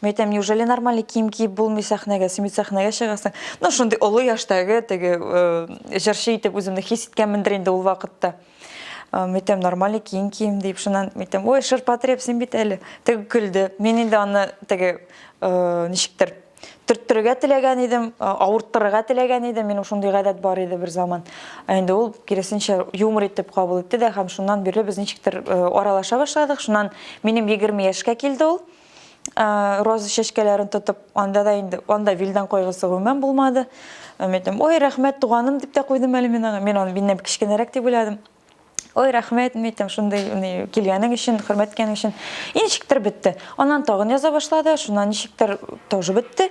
Мин әйтәм, неужели нормальный кием киеп булмый сәхнәгә, син бит сәхнәгә чыгасың. Ну, шундый олы яшьтәге теге э, җырчы итеп үземне хис иткәнмендер инде ул вакытта. Э, Мин әйтәм, нормальный кием кием дип, шуннан мин әйтәм, ой, шырпотреб, син бит әле. Теге көлде. Мин инде аны теге э, ничектер төрттерергә теләгән идем, э, авырттырырга теләгән идем. Минем шундый гадәт бар иде бер заман. Ә инде ул киресенчә юмор итеп кабул итте дә һәм шуннан бирле без ничектер э, аралаша башладык. Шуннан минем 20 яшькә килде ул. роза чәчкәләрен тотып анда да инде анда вилдан кайгысы гомумән булмады мен әйттем ой рәхмәт туганым дип тә куйдым әле мин аңа мин аны миннән кечкенәрәк дип уйладым ой рәхмәт мен әйттем шундый килгәнең өчен хөрмәт иткәнең өчен ничектер бетте аннан тагын яза башлады шуннан ничектер тоже бетте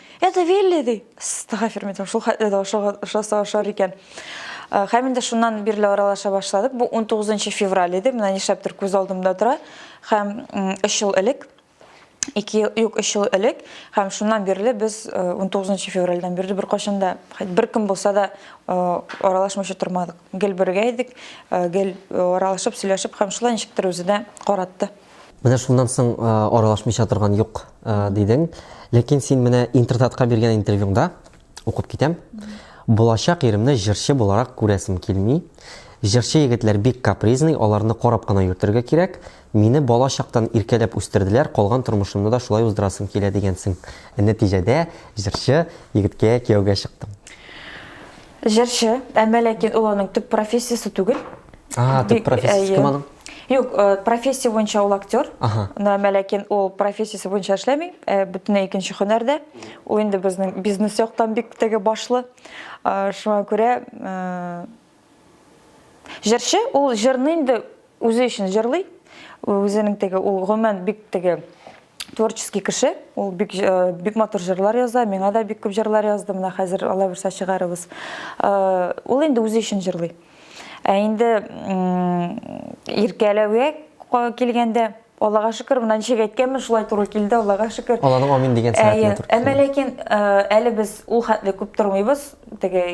Это вели, ди. Стагафир митем, шул хәтле дә ошаса ошар икән. Э, Хәм инде шуннан бирле аралаша башладык. Бу 19 февраль иде, менә нишләптер күз алдымда тора. Хәм 3 ел элек, 2 ел, юк, 3 ел элек, хәм шуннан бирле без 19 э, февральдән бирле бер кашында, бер кем булса да э, аралашмыйча тормадык. Гел бергә идек, гел аралашып, сөйләшеп, хәм шулай ничектер үзе дә каратты. Менә шуннан соң аралашмыйча торган юк дидең. Ләкин син менә интертатка биргән интервьюңда укып китәм. Булачак иремне җырчы буларак күрәсем килми. Җырчы егетләр бик капризный, аларны карап кына йөртергә кирәк. Мине бала чактан иркәләп үстерделәр, калган тормышымны да шулай уздырасым килә дигәнсең. Нәтиҗәдә җырчы егеткә кияүгә чыктың. Җырчы, әмма ләкин ул аның төп профессиясе түгел. А, төп профессиясе кем аның? Юк, э, профессия буенча ул актер. Ага. Әмма ләкин ул профессиясе буенча эшләми, э, бөтенләй икенче һөнәрдә. Ул инде безнең бизнес яктан бик теге башлы. Э, шуңа күрә э, җырчы ул җырны инде үзе өчен җырлый. Үзенең теге ул гомумән бик теге творческий кеше ул бик э, бик матур җырлар яза миңа да бик күп җырлар язды менә хәзер алла бирсә чыгарыбыз э, ул инде үзе өчен җырлый ә инде иркәләүгә килгәндә аллага шөкер мына ничек әйткәнмен шулай туры килде аллага шөкер алланың амин дигән сәгатенә туры әмма ләкин э, әле без ул хәтле күп тормыйбыз теге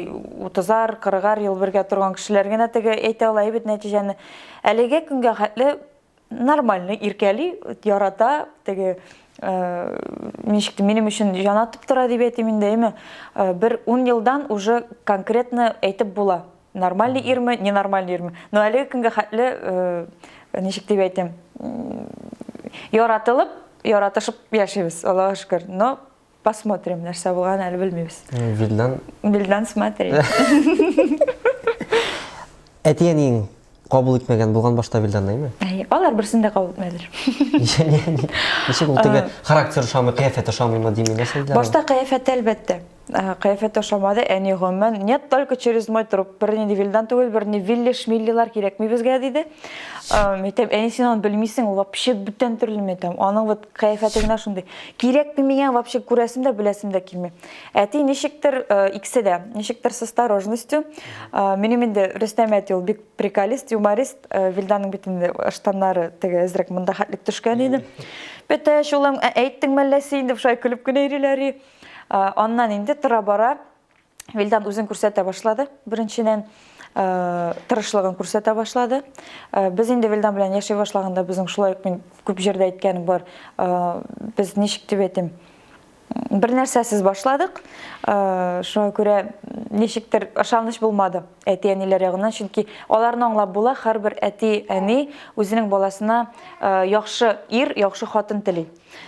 утызар кырыгар ел бергә торган кешеләр генә теге әйтә ала бит нәтиҗәне әлеге көнгә хәтле нормально иркәли ярата теге э, ничек те минем өчен җан атып тора дип әйтим инде әйме э, бер ун елдан уже конкретно әйтеп була нормальный ирме ненормальный ирме но әлеге көнгә хәтле э, ничек дип әйтим яратылып яратышып яшибез аллага шөкер но Посмотрим, нәрсә булган әле белмибез. Вильдан. Вильдан смотри. Әти әниең кабул итмәгән булган башта Вильданны, әйме? Әйе, алар берсен дә кабул итмәделәр. Ничек ул теге характер ошамый, кыяфәт ошамыймы дими, нәрсә диләр? Башта кыяфәте әлбәттә. Кыяфәт ошамады, әни гомумән, нет, только через мой труп. Бер нинди Вильдан түгел, бер ни Вилли, Шмиллилар кирәкми безгә диде. Әйтәм, әни син аны белмисең, ул вообще бүтән төрле мәйтәм. Аның вот Кыяфәте генә шундый. Кирәкми миңа вообще күрәсем дә, беләсем дә килми. Әти ничектер э, икесе дә, ничектер с осторожностью. Э, минем инде Рөстәм әти ул бик приколист, юморист. Э, Вильданның бит инде штаннары теге әзрәк монда хәтлек төшкән иде. Бетәш улым, ә әйттең мәлләсе инде шулай көлеп кенә йөриләр. Аннан инде тора бара Вилдан үзен күрсәтә башлады. Беренчедән, э, тырышлыгын күрсәтә башлады. Э, без инде Вилдан белән яши башлаганда безнең шулай ук мин күп җирдә әйткәнем бар. Э, без ничек дип әйтим? Бер нәрсәсез башладык. Шуңа күрә ничектер ышаныч булмады әти-әниләр ягыннан, чөнки аларны аңлап була, һәрбер әти-әни үзенең баласына яхшы ир, яхшы хатын тели.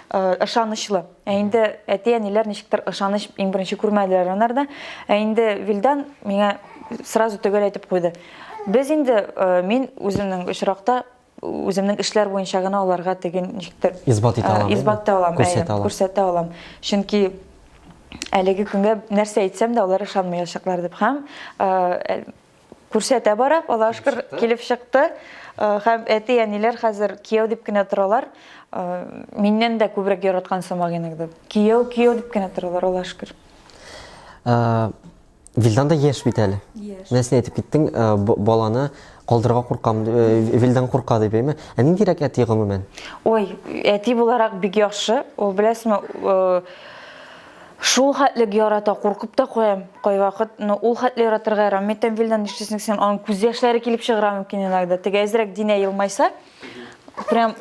Ышанычлы. Ә инде әти-әниләр ничектер ышаныч иң беренче күрмәделәр анарда. Ә инде Вилдан миңа сразу төгәл әйтеп куйды. Без инде э, мин үземнең очракта үземнең эшләр буенча гына аларга теген ничектер исбат итә алам. Исбат алам, күрсәтә алам. Күрсәтә алам. Чөнки әлеге көнгә нәрсә әйтсәм дә алар ышанмаячаклар дип һәм э, Күрсәтә бара, Аллаһ шөкер, килеп чыкты. Э, һәм әти әниләр хәзер кияү дип кенә торалар. Э, миннән дә күбрәк яраткан сымак инде. Кияү, кияү дип кенә торалар, Аллаһ шөкер. Э, Вилдан да яшь бит әле. Нәрсә әйтеп киттең, баланы калдырга куркам, Вилдан курка дип әйме? Ә ниндирәк әти гомумән? Ой, әти буларак бик яхшы. Ул беләсме, Шул хәтлек ярата, куркып та куям кайвакыт, но ул хәтле яратырга ярамый икән Вилдан, нишлисең син, аның күз яшьләре килеп чыгыра мөмкин иногда, теге әзрәк Динә елмайса, прям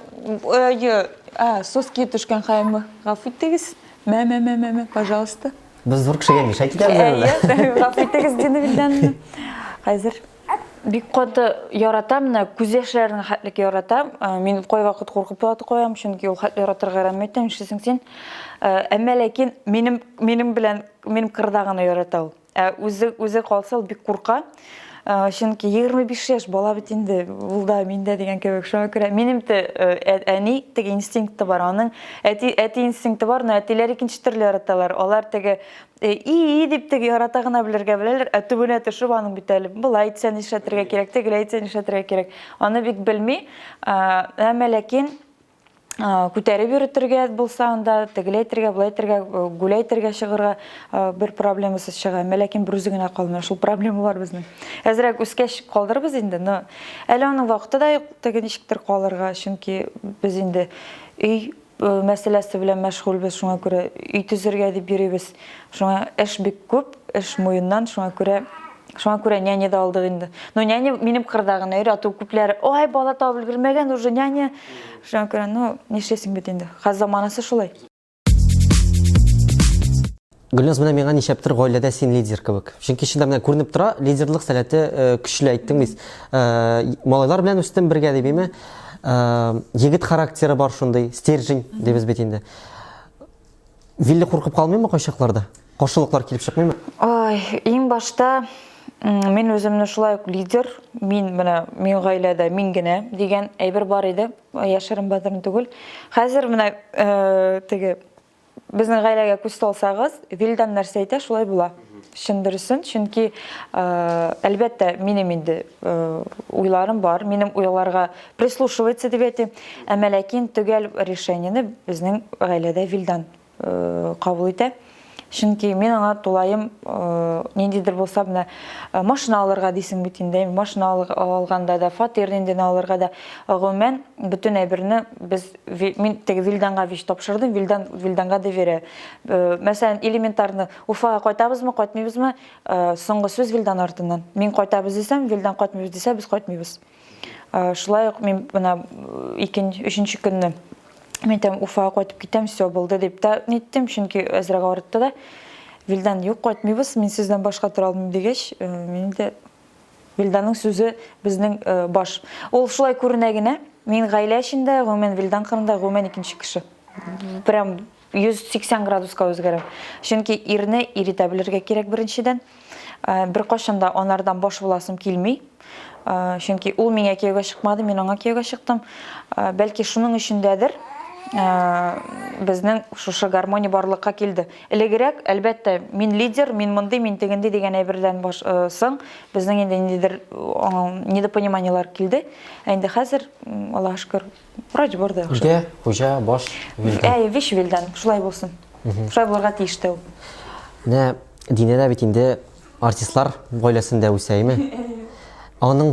ое, а, соски төшкән хәлме, гафу итегез, мә, мә, мә, мә, мә, пожалуйста. Без зур кешегә нишләп китәбез әле? Әйе, гафу итегез, диде Вилдан. Хәзер. Бик каты яратам, менә күз яшьләренә хәтлек яратам. Мин кайвакыт куркып та куям, чөнки ул хәтле яратырга рәхмәт итәм, нишлисең син. Әмма ләкин минем минем белән минем кырда гына ярата ул. Ә үзе үзе калса ул бик курка. Чөнки 25 яшь бала бит инде, ул да мин дә дигән кебек. Шуңа күрә минем дә әни теге инстинкты бар, аның әти әти инстинкты бар, но әтиләр икенче төрле яраталар. Алар теге Э, и-и дип теге ярата гына белергә беләләр, ә төбенә төшеп аның бит әле былай итсә нишләтергә кирәк, тегеләй итсә нишләтергә кирәк. Аны бик белми, әмма ләкин күтәреп йөртергә булса анда тегеләй итергә, былай итергә, э, гүләй итергә чыгырга э, бер проблемасыз чыга. Әмма ләкин бер үзе генә калмый. Шул проблемалар безнең. Әзрәк үскәч калдырбыз инде, но әле аның вакыты да юк, теге ничектер калырга, чөнки без инде өй мәсьәләсе белән мәшгульбез, шуңа күрә өй төзергә дип йөрибез. Шуңа эш бик күп, эш муеннан, шуңа күрә Шуңа күрә няня да алдык инде. Ну, няня минем кырда гына йөри, ату күпләре, ой, бала табып өлгермәгән, уже няня. Шуңа күрә, ну, нишлисең бит инде. Хәзер заманасы шулай. Гөлназ, менә миңа ничәптер гаиләдә син лидер кебек. Чөнки чында менә күренеп тора, лидерлык сәләте э, көчле әйттең бит. Э, малайлар белән үстем бергә дип име? Э, егет характеры бар шундый, стержень дибез бит инде. Вилли куркып калмыймы кайчакларда? Каршылыклар килеп чыкмыймы? Ай, иң башта мин үземне шулай ук лидер, мин менә мин гаиләдә мин генә дигән әйбер бар иде, яшерен бәдерен түгел. Хәзер менә теге Безнең гаиләгә күз салсагыз, Вилдан нәрсә әйтә, шулай була. Чын дөресен, чөнки әлбәттә минем инде уйларым бар, минем уйларга прислушивается дип әйтим, әмма ләкин төгәл решениене безнең гаиләдә Вилдан кабул итә. Чөнки мин аңа тулаем ниндидер булса менә машина алырга дисең бит инде, машина алганда да, фатир ниндене алырга да, гомумән бөтен әйберне без мин теге Вильданга вещь тапшырдым, Вильдан Вильданга доверяю. Э, мәсәлән, элементарны Уфага кайтабызмы, кайтмыйбызмы? Э, соңгы сүз Вильдан артыннан. Мин кайтабыз дисәм, Вильдан кайтмыйбыз дисә, без кайтмыйбыз. Э, шулай ук мин менә икенче, өченче көнне мен әйтәм, Уфага кайтып китәм, все булды дип та ниттем, чөнки әзрәк арытты да. Вильдан, юк, кайтмыйбыз, мин сездән башка тора алмыйм дигәч, мин дә Вилданның сүзе безнең баш. Ул шулай күренә генә. Мин гаилә эчендә, гомумән Вилдан кырында гомумән икенче кеше. Прям 180 градуска үзгәрә. Чөнки ирне иретә белергә кирәк беренчедән. Бер кашында анардан баш буласым килми. Чөнки ул миңа кияүгә чыкмады, мин аңа кияүгә чыктым. Бәлки шуның өчен дәдер, безнең шушы гармония барлыкка килде. Элегрәк, әлбәттә, мин лидер, мин мондый, мин тегенди дигән әйбердән баш, э, соң безнең инде ниндидер недопониманиеләр килде. Ә инде хәзер, Аллаһ шөкер, врач бар да яхшы. Үтә, хуҗа, баш, вилдан. Әй, вич вилдан, шулай булсын. Шулай булырга тиеш тә ул. Менә Динә дә бит инде артистлар гаиләсендә үсә, әйме? Аның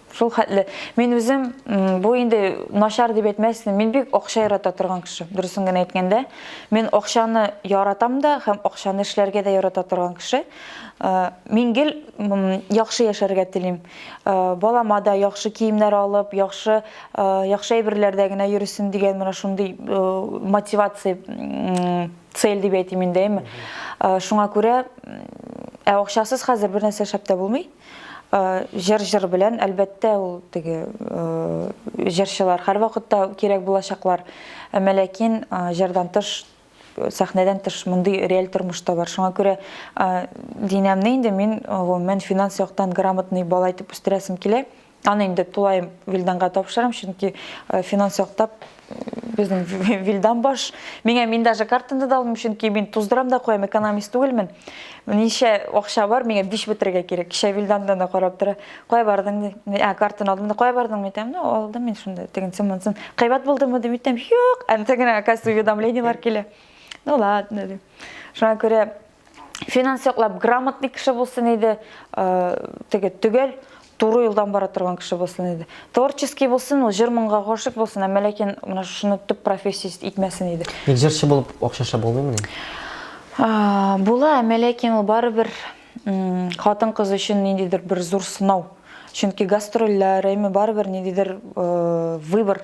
Шул хәтле. Мин үзем бу инде начар дип әйтмәссең, мин бик акча ярата торган кеше. Дөресен генә әйткәндә, мин акчаны яратам да һәм акчаны эшләргә дә ярата торган кеше. Э, мин гел яхшы яшәргә телим. Э, балама да яхшы киемнәр алып, яхшы э, яхшы әйберләрдә генә йөрсен дигән менә шундый мотивация цель дип әйтим инде, әйме. Шуңа күрә ә акчасыз хәзер бер нәрсә шәп тә булмый. Җыр җыр белән, әлбәттә, ул теге җырчылар һәрвакытта кирәк булачаклар. Әмма ләкин җырдан тыш, сәхнәдән тыш мондый реаль тормыш та бар. Шуңа күрә Динәмне инде мин гомумән финанс яктан грамотный бала итеп үстерәсем килә. Аны инде тулаем Вилданга тапшырам, чөнки финанс яктап безнең Вилдан баш. Миңа мин даже картаны да алмыйм, чөнки мин туздырам да куям, экономист түгелмен. Ничә акча бар, миңа биш бетерергә кирәк. Кичә Вилдандан да карап тора. Кая бардың ди? Ә, картаны алдым да, кая бардың ди? Ну, алдым мин шунда, тегенсен монсын. Кыйбат булдымы ди? Митем, юк. Анда генә, оказывается, уведомлениелар килә. Ну ладно ди. Шуңа күрә финанс яклап грамотный кеше булсын иде теге төгәл туры юлдан бара торган кеше булсын иде творческий булсын ул җыр моңга гашык булсын әмма ләкин менә шуны төп профессия итмәсен иде ник җырчы булып акча эшләп булмыймыни була әмма ләкин ул барыбер хатын кыз өчен ниндидер бер зур сынау чөнки гастрольләр әйме барыбер ниндидер выбор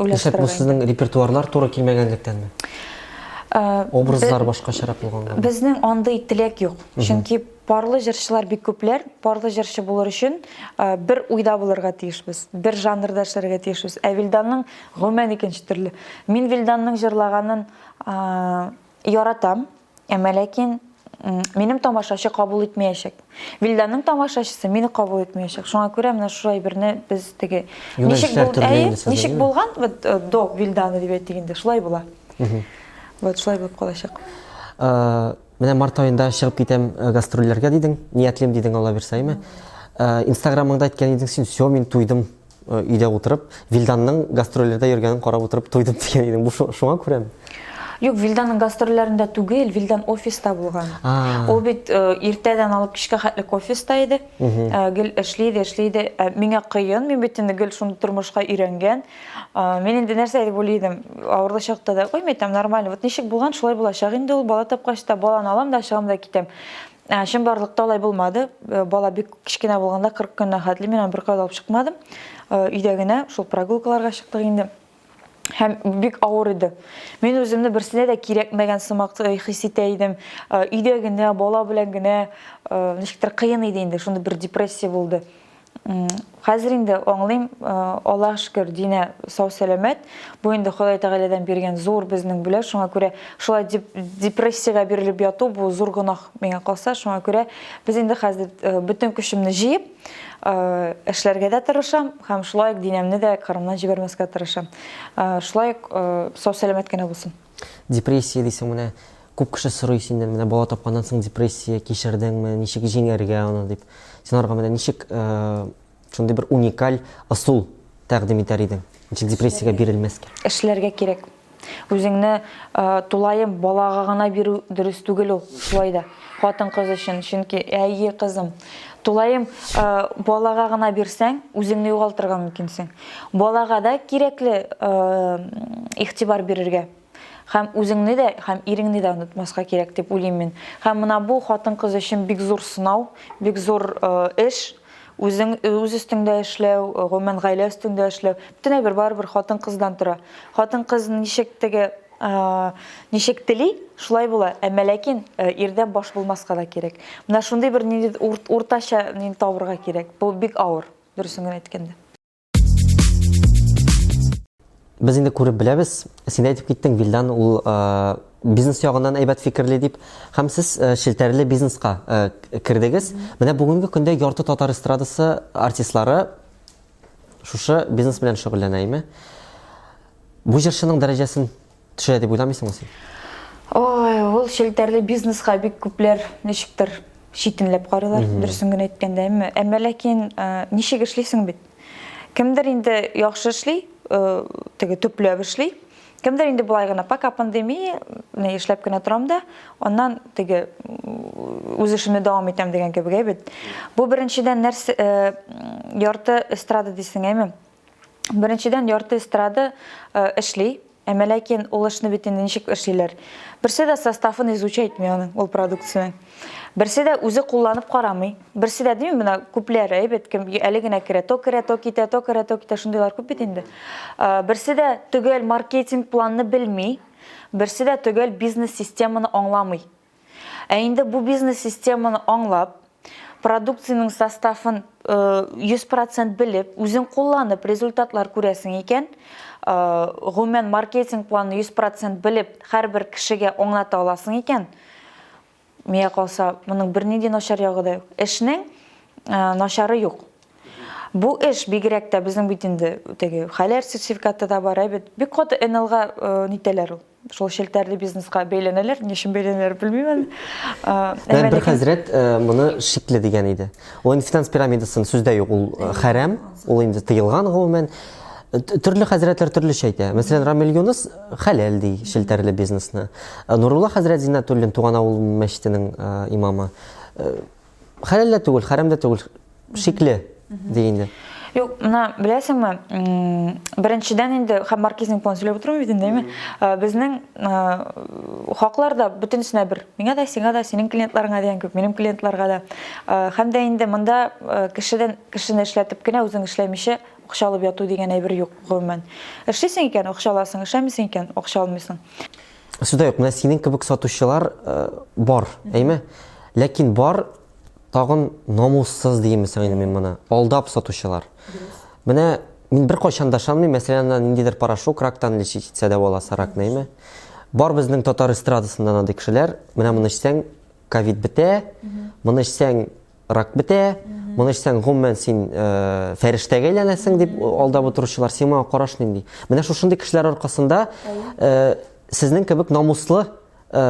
Дисәк, бу сезнең репертуарлар туры килмәгәнлектәнме? Образлар башкачарак булганга. Безнең андый теләк юк. Чөнки парлы җырчылар бик күпләр. Парлы җырчы булыр өчен бер уйда булырга тиешбез, бер жанрда эшләргә тиешбез. Ә Вилданның гомумән икенче төрле. Мин Вилданның җырлаганын яратам. Әмма ләкин минем тамашачы кабул итмәячәк. Вилданның тамашачысы мине кабул итмәячәк. Шуңа күрә менә шул әйберне без теге ничек булды, әйе, ничек булган, вот э, до Вилданы дип әйтик инде, шулай була. Вот шулай булып калачак. Э, менә март аенда чыгып китәм э, гастрольләргә дидең, ниятлим дидең, Алла бирсә, әйме? Инстаграмыңда әйткән идең син, "Все, мин туйдым" Э, өйдә утырып вилданның гастрольләрдә йөргәнен карап утырып туйдым дигән идең бу шуңа күрәме юк вилданның гастрольләрендә түгел вилдан офиста булган ул бит э, иртәдән алып кичкә хәтлек офиста иде э, гел эшли иде эшли иде миңа кыен мин бит инде гел шундый тормышка өйрәнгән мин инде нәрсә дип уйлый идем авырлы чакта да ой мин там нормально вот ничек булган шулай булачак инде ул бала тапкач та баланы алам да чыгам да китәм Ә, чынбарлыкта алай булмады. Э, бала бик кечкенә булганда 40 көннән хәтле мин аны беркая алып чыкмадым. Э, өйдә генә шул прогулкаларга чыктык инде. Һәм бик авыр иде. Мин үземне берсенә дә кирәкмәгән сымак э, хис итә идем. Өйдә генә, бала белән генә ничектер кыен иде инде. Шунда бер депрессия булды. Хәзер инде аңлыйм, Аллаһ шөкер, Динә сау-сәламәт. Бу инде Ходай Тәгаләдән биргән зур безнең бүләк. Шуңа күрә шулай дип депрессиягә бирелеп яту бу зур гөнаһ миңа калса. Шуңа күрә без инде хәзер бөтен көчемне җыеп, эшләргә дә тырышам һәм шулай ук Динәмне дә Кырымнан җибәрмәскә тырышам. Шулай ук сау-сәламәт кенә булсын. Депрессия дисең менә күп кеше сорый синнән менә бала тапканнан соң депрессия кичердеңме, ничек җиңәргә аны дип. Син аларга менә ничек э, шундый бер уникаль ысул тәкъдим итәр идең? Ничек депрессиягә бирелмәскә? Эшләргә кирәк. Үзеңне э, тулаем балага гына бирү дөрес түгел ул. Шулай да хатын кыз өчен, чөнки әйе кызым, тулаем э, балага гына бирсәң, үзеңне югалтырга мөмкинсең. Балага да кирәкле игътибар бирергә һәм үзеңне дә, һәм иреңне дә онытмаска кирәк дип уйлыйм мин. Һәм менә бу хатын-кыз өчен бик зур сынау, бик зур эш, үзең үз өстеңдә эшләү, гомумән гаилә өстеңдә эшләү. Бөтенләй бер барыбер хатын-кыздан тора. Хатын-кыз ничек теге ничек тели, шулай була. Әмма ләкин ирдән баш булмаска да кирәк. Менә шундый бер ниндидер уртача нин табырга кирәк. Бу бик авыр. Дөресен генә әйткәндә. Без инде күреп беләбез, син әйтеп киттең, Вилдан ул бизнес ягыннан әйбәт фикерли дип, һәм сез челтәрле бизнеска кердегез. Менә бүгенге көндә ярты татар эстрадасы артистлары шушы бизнес белән шөгыльләнә, әйме? Бу җырчының дәрәҗәсен төшерә дип уйламыйсыңмы син? Ой, ул челтәрле бизнеска бик күпләр ничектер читенләп карыйлар, дөресен генә әйткәндә. Әмма, әмма ләкин ничек эшлисең бит? Кемдер инде яхшы эшли, теге төпләп эшли. Кемдер инде болай гына пока пандемия, менә эшләп кенә торам да, аннан теге үз эшемне дәвам итәм дигән кебек бит. Бу беренчедән нәрсә ярты эстрада дисең, әйме? Беренчедән, ярты эстрада эшли, әмма ләкин ул эшне бит инде ничек эшлиләр? Берсе дә составын изучайтмый аның, ул продукцияне. Берсе дә үзе кулланып карамый. Берсе дә дими, менә күпләр әйбәт, кем әле генә керә, то керә, то китә, то керә, то китә, шундыйлар күп бит инде. Берсе дә төгәл маркетинг планны белми, берсе дә төгәл бизнес-системаны аңламый. Ә инде бу бизнес-системаны аңлап, продукциянең составын 100 процент белеп, үзең кулланып результатлар күрәсең икән, гомумән маркетинг планы 100 процент белеп, һәрбер кешегә аңлата аласың икән, миңа калса, моның бернинди начар ягы да юк. Эшнең начары юк. Бу эш бигрәк тә безнең бит инде теге хәләл сертификаты да бар, әйбәт. Бик каты НЛга нитәләр ул. шул челтәрле бизнеска бәйләнәләр. Ни өчен бәйләнәләр, белмим әле. Ә бер хәзрәт моны шикле дигән иде. Ул финанс пирамидасын сүздә юк, ул хәрам, ул инде тыелган гомумән. Төрле хәзрәтләр төрлечә әйтә. Мәсәлән, Рамил Юныс хәләл ди челтәрле бизнесны. Нурулла хәзрәт Зиннәтуллин туган авыл мәчетенең имамы Хәләл дә түгел, хәрәм дә түгел. Шикле ди инде. Юк, менә беләсеңме, беренчедән инде һәм маркизның план сөйләп утыру бит инде, әйме? Безнең хаклар да бөтенесенә бер. Миңа да, сиңа да, синең клиентларыңа дигән күп, минем клиентларга да. Һәм дә инде монда кешедән кешене эшләтеп кенә үзең эшләмичә акча алып яту дигән әйбер юк, гомумән. Эшлисең икән, акча аласың, эшләмисең икән, акча алмыйсың. Сюда юк, менә синең кебек сатучылар э, бар, әйме? Ләкин бар тагын намуссыз диемесең инде мин моны. Алдап сатучылар. Менә мин бер кайчан да шанмыйм, мәсәлән, ана ниндидер порошок рактан лечить итсә дә була сарак, әйме? Бар безнең татар эстрадасында андый кешеләр, менә моны эчсәң, ковид бетә, моны эчсәң, рак бетә, моны эчсәң, гомумән син э, фәрештәгә әйләнәсең дип алдап утыручылар, син моңа караш нинди? Менә шушындый кешеләр аркасында э, сезнең кебек намуслы э,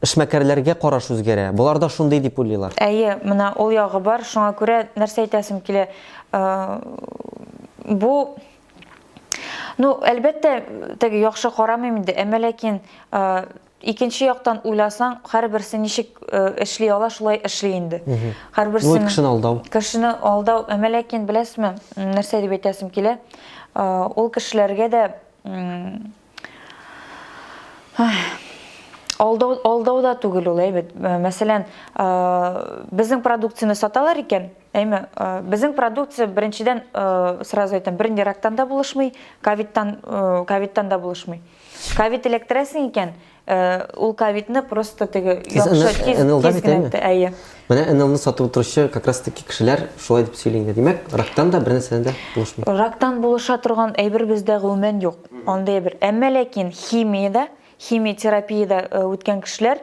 эшмәкәрләргә караш үзгәрә. Болар да шундый дип уйлыйлар. Әйе, менә ул ягы бар, шуңа күрә нәрсә әйтәсем килә. Э, бу Ну, әлбәттә, теге яхшы карамыйм инде, әмма ләкин э, Икенче яктан уйласаң, һәрберсе ничек эшли ала, шулай эшли инде. Һәрберсе кешене алдау. Кешене алдау, әмма ләкин беләсезме, нәрсә дип әйтәсем килә? Ул кешеләргә дә алдау алдау да түгел ул әйбәт э, мәсәлән э, безнең продукцияне саталар икән әйме э, безнең продукция беренчедән сразу әйтәм бернирактан да булышмый ковидтан ковидтан да булышмый Кавит электрәсең икән, ул кавитны просто теге яхшы тиз тиз генә әйе. Менә НЛны сатып утыручы как раз таки кешеләр шулай дип сөйли инде. Димәк, рактан да бер нәрсәдән дә булышмый. Рактан булыша торган әйбер бездә гомумән юк. Андый әйбер. Әмма ләкин химиядә, химиотерапиядә үткән кешеләр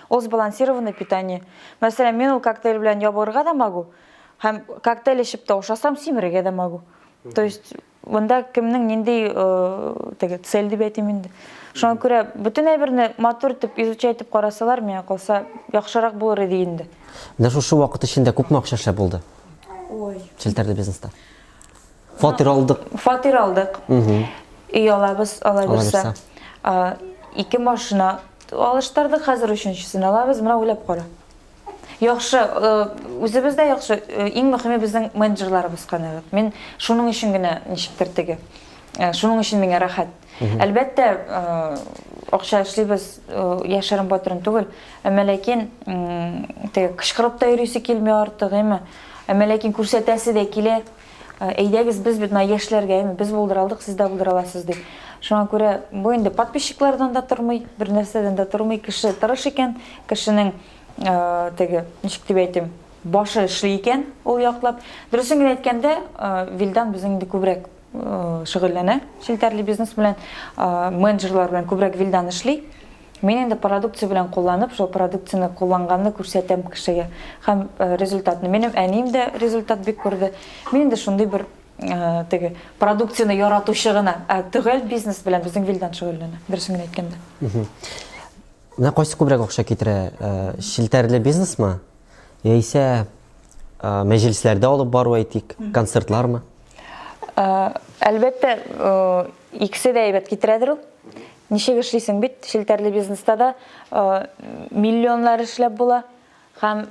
Ул сбалансированный питание. Мәсәлән, мин ул коктейль белән ябыгырга да могу, һәм коктейль эчеп тә ашасам, симерергә дә могу. То есть, монда кемнең нинди э, теге цель дип әйтим инде. Шуңа күрә бөтен әйберне матур итеп изучать итеп карасалар, миңа калса, яхшырак булыр иде инде. Менә шушы вакыт эчендә күпме акча эшләп булды? Ой. Челтәрле бизнеста. Фатир алдык. Фатир алдык. Өй алабыз, алабызса. Ике машина алыштырдык, хәзер өченчесен алабыз, менә уйлап кара. Яхшы, үзебез дә яхшы, иң мөхиме безнең менеджерларыбыз канәгать. Мин шуның өчен генә ничектер теге. Шуның өчен миңа рәхәт. Әлбәттә, акча эшлибез, яшерен батырын түгел. Әмма ләкин теге кычкырып та йөрисе килми артык, әмма ләкин күрсәтәсе дә килә. Әйдәгез, без бит менә яшьләргә, әйме, без булдыра алдык, сез дә булдыра аласыз, дип. Шуңа күрә бу инде подписчиклардан да тормый, бер нәрсәдән дә тормый. Кеше тырыш икән, кешенең теге, ничек дип әйтим, башы эшли икән ул яклап. Дөресен генә әйткәндә, Вилдан безнең инде күбрәк шөгыльләнә челтәрле бизнес белән, менеджерлар белән күбрәк Вилдан эшли. Мин инде продукция белән кулланып, шул продукцияне кулланганны күрсәтәм кешегә. Һәм результатны. Минем әнием дә результат бик күрде. Мин инде шундый бер теге продукцияне яратучы гына. Ә төгәл бизнес белән безнең Вилдан шөгыльләнә, дөресен генә әйткәндә. Менә кайсы күбрәк акча китерә? Челтәрле бизнесмы? Яисә мәҗлесләрдә алып бару әйтик, концертлармы? Әлбәттә, икесе дә әйбәт китерәдер ул. Ничек эшлисең бит, челтәрле бизнеста да миллионнар эшләп була һәм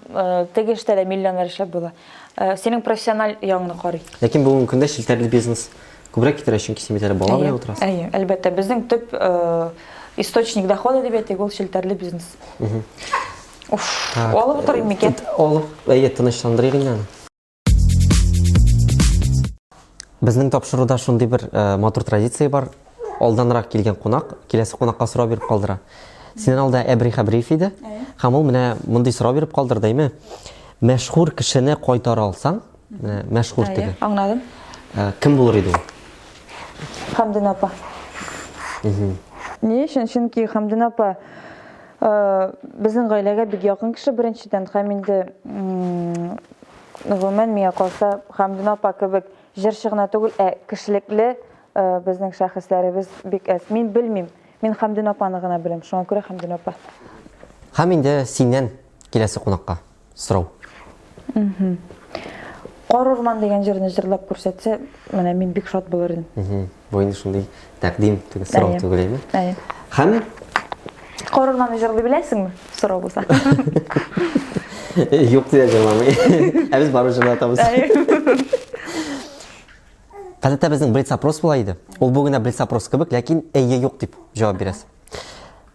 теге эштә дә миллионнар эшләп була. Синең профессиональ ягыңны карый. Ләкин бүгенге көндә челтәрле бизнес күбрәк китерә, чөнки син бит әле бала белән утырасың. Әйе, әлбәттә, безнең төп источник дохода дип әйтик, ул челтәрле бизнес. Уф, алып утырыйм микән? Алып, әйе, тынычландырыйк инде аны. Безнең тапшыруда шундый бер э, матур традиция бар. Алданрак килгән кунак, киләсе кунакка сорау биреп калдыра. Синен алда Әбри Хәбриев иде. Һәм ул менә мондый сорау биреп калдыр, дәйме? Мәшһүр кешене кайтара алсаң, э, мәшһүр теге. Аңладым. Э, кем булыр иде ул? Хамдин апа. Ни өчен? Чөнки Хамдин апа Безнең гаиләгә бик якын кеше беренчедән, һәм инде гомумән миңа калса, Хәмдүнә апа кебек җырчы гына түгел, ә кешелекле безнең шәхесләребез бик әз. Мин белмим, мин Хәмдүнә апаны гына беләм, шуңа күрә Хәмдүнә апа. Һәм инде синнән киләсе кунакка. сорау. Кар урман дигән җырны җырлап күрсәтсә, менә мин бик шат булыр идем. Бу инде шундый тәкъдим түгел, сорау түгел әйме? Әйе. Һәм Кар урманы җырлый беләсеңме? Сорау булса. Юк дия җырламый. Ә без барып җырлатабыз. Гадәттә безнең блиц опрос була иде. Ул бүгенә блиц опрос кебек, ләкин әйе юк дип җавап бирәсез.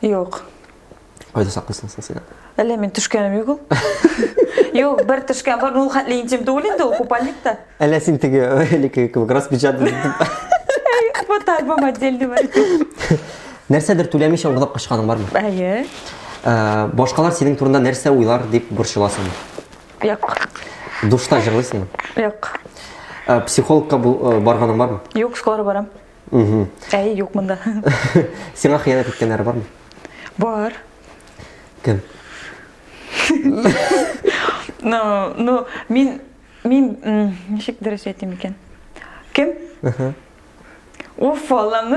Юк. Кайда саклыйсың соң син? Әллә мин төшкәнем юк ул? Юк, бер төшкән бар, ну хәтле интим түгел инде ул купальник та. Әллә син теге элеке кебек распечатан итеп. Вот альбом отдельный бар. Нәрсәдер түләмичә урлап качканың бармы? Әйе. Ә, башкалар синең турында нәрсә уйлар дип борчыласың? Юк. Душта җырлыйсыңмы? Юк. Ә, психологка бу- э, барганың бармы? Юк, скоро барам. Әй, юк монда. Сиңа хыянәт иткәннәр бармы? Бар. Кем? Ну, ну, мин мин ничек дөрес әйтим икән? Кем? Аха. Уф, Аллам.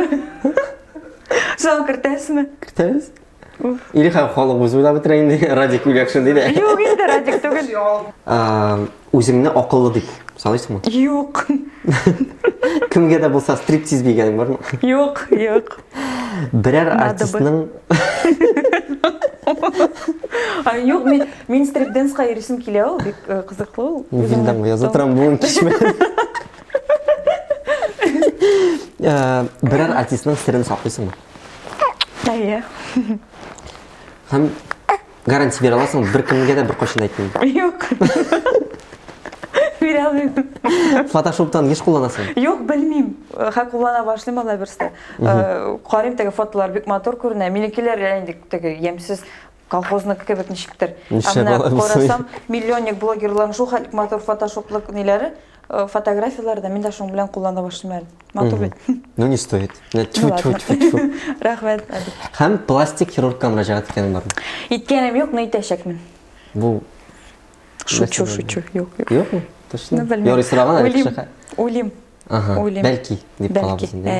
Сон кертәсме? Кертәбез. Или хәм халык үзе уйлап бетерә инде, Радик Юлякшин диде. Юк инде, Радик түгел. Үзеңне акыллы дип саныйсыңмы? Юк. Кемгә дә булса стриптиз бигәнең бармы? Юк, юк. Берәр артистның Юк, мин мин стрип-денска йөрисем килә ул, бик э, кызыклы ул. Үземдән язып торам бүген кичмә. Э, берәр артистның сирен саклыйсыңмы? Әйе. Һәм гарантия бирә аласың, бер кемгә дә бер кайчан әйтмим. Юк. Бирә алмыйм. Фотошоптан еш кулланасың? Юк, белмим. Хә куллана башлыйм алай берсе. Э, Карыйм теге фотолар бик матур күренә. Минекеләр инде теге ямьсез колхозны кебек ничектер. Ә менә карасам, миллионник блогерларның шул хәтлек матур фотошоплык ниләре. Э, фотографияләр дә мин дә шуның белән куллана башлыйм әле матур бит ну не стоит рәхмәт һәм пластик хирургка мөрәҗәгать иткәнең бармы иткәнем юк но итәчәкмен бу шучу шучу юк юк юкмы точно юрый сораган әле кеше уйлыйм уйлыйм бәлки дип калабыз инде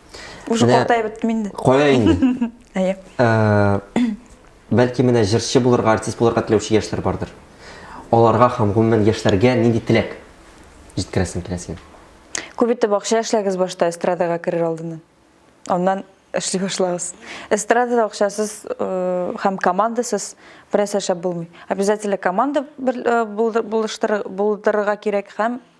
Уже Менә- картаеп беттем инде. Кая инде? Әйе. Ә, Бәлки менә җырчы булырга, артист булырга теләүче яшьләр бардыр. Аларга һәм гомумән яшьләргә нинди теләк җиткерәсең килә синең? Күп итеп акча эшләгез башта эстрадага керер алдыннан. Аннан эшли башлагыз. Эстрадада акчасыз э, һәм командасыз берәсә шәп булмый. Обязательно команда бер- э, булды- булыштыры- булдырырга кирәк һәм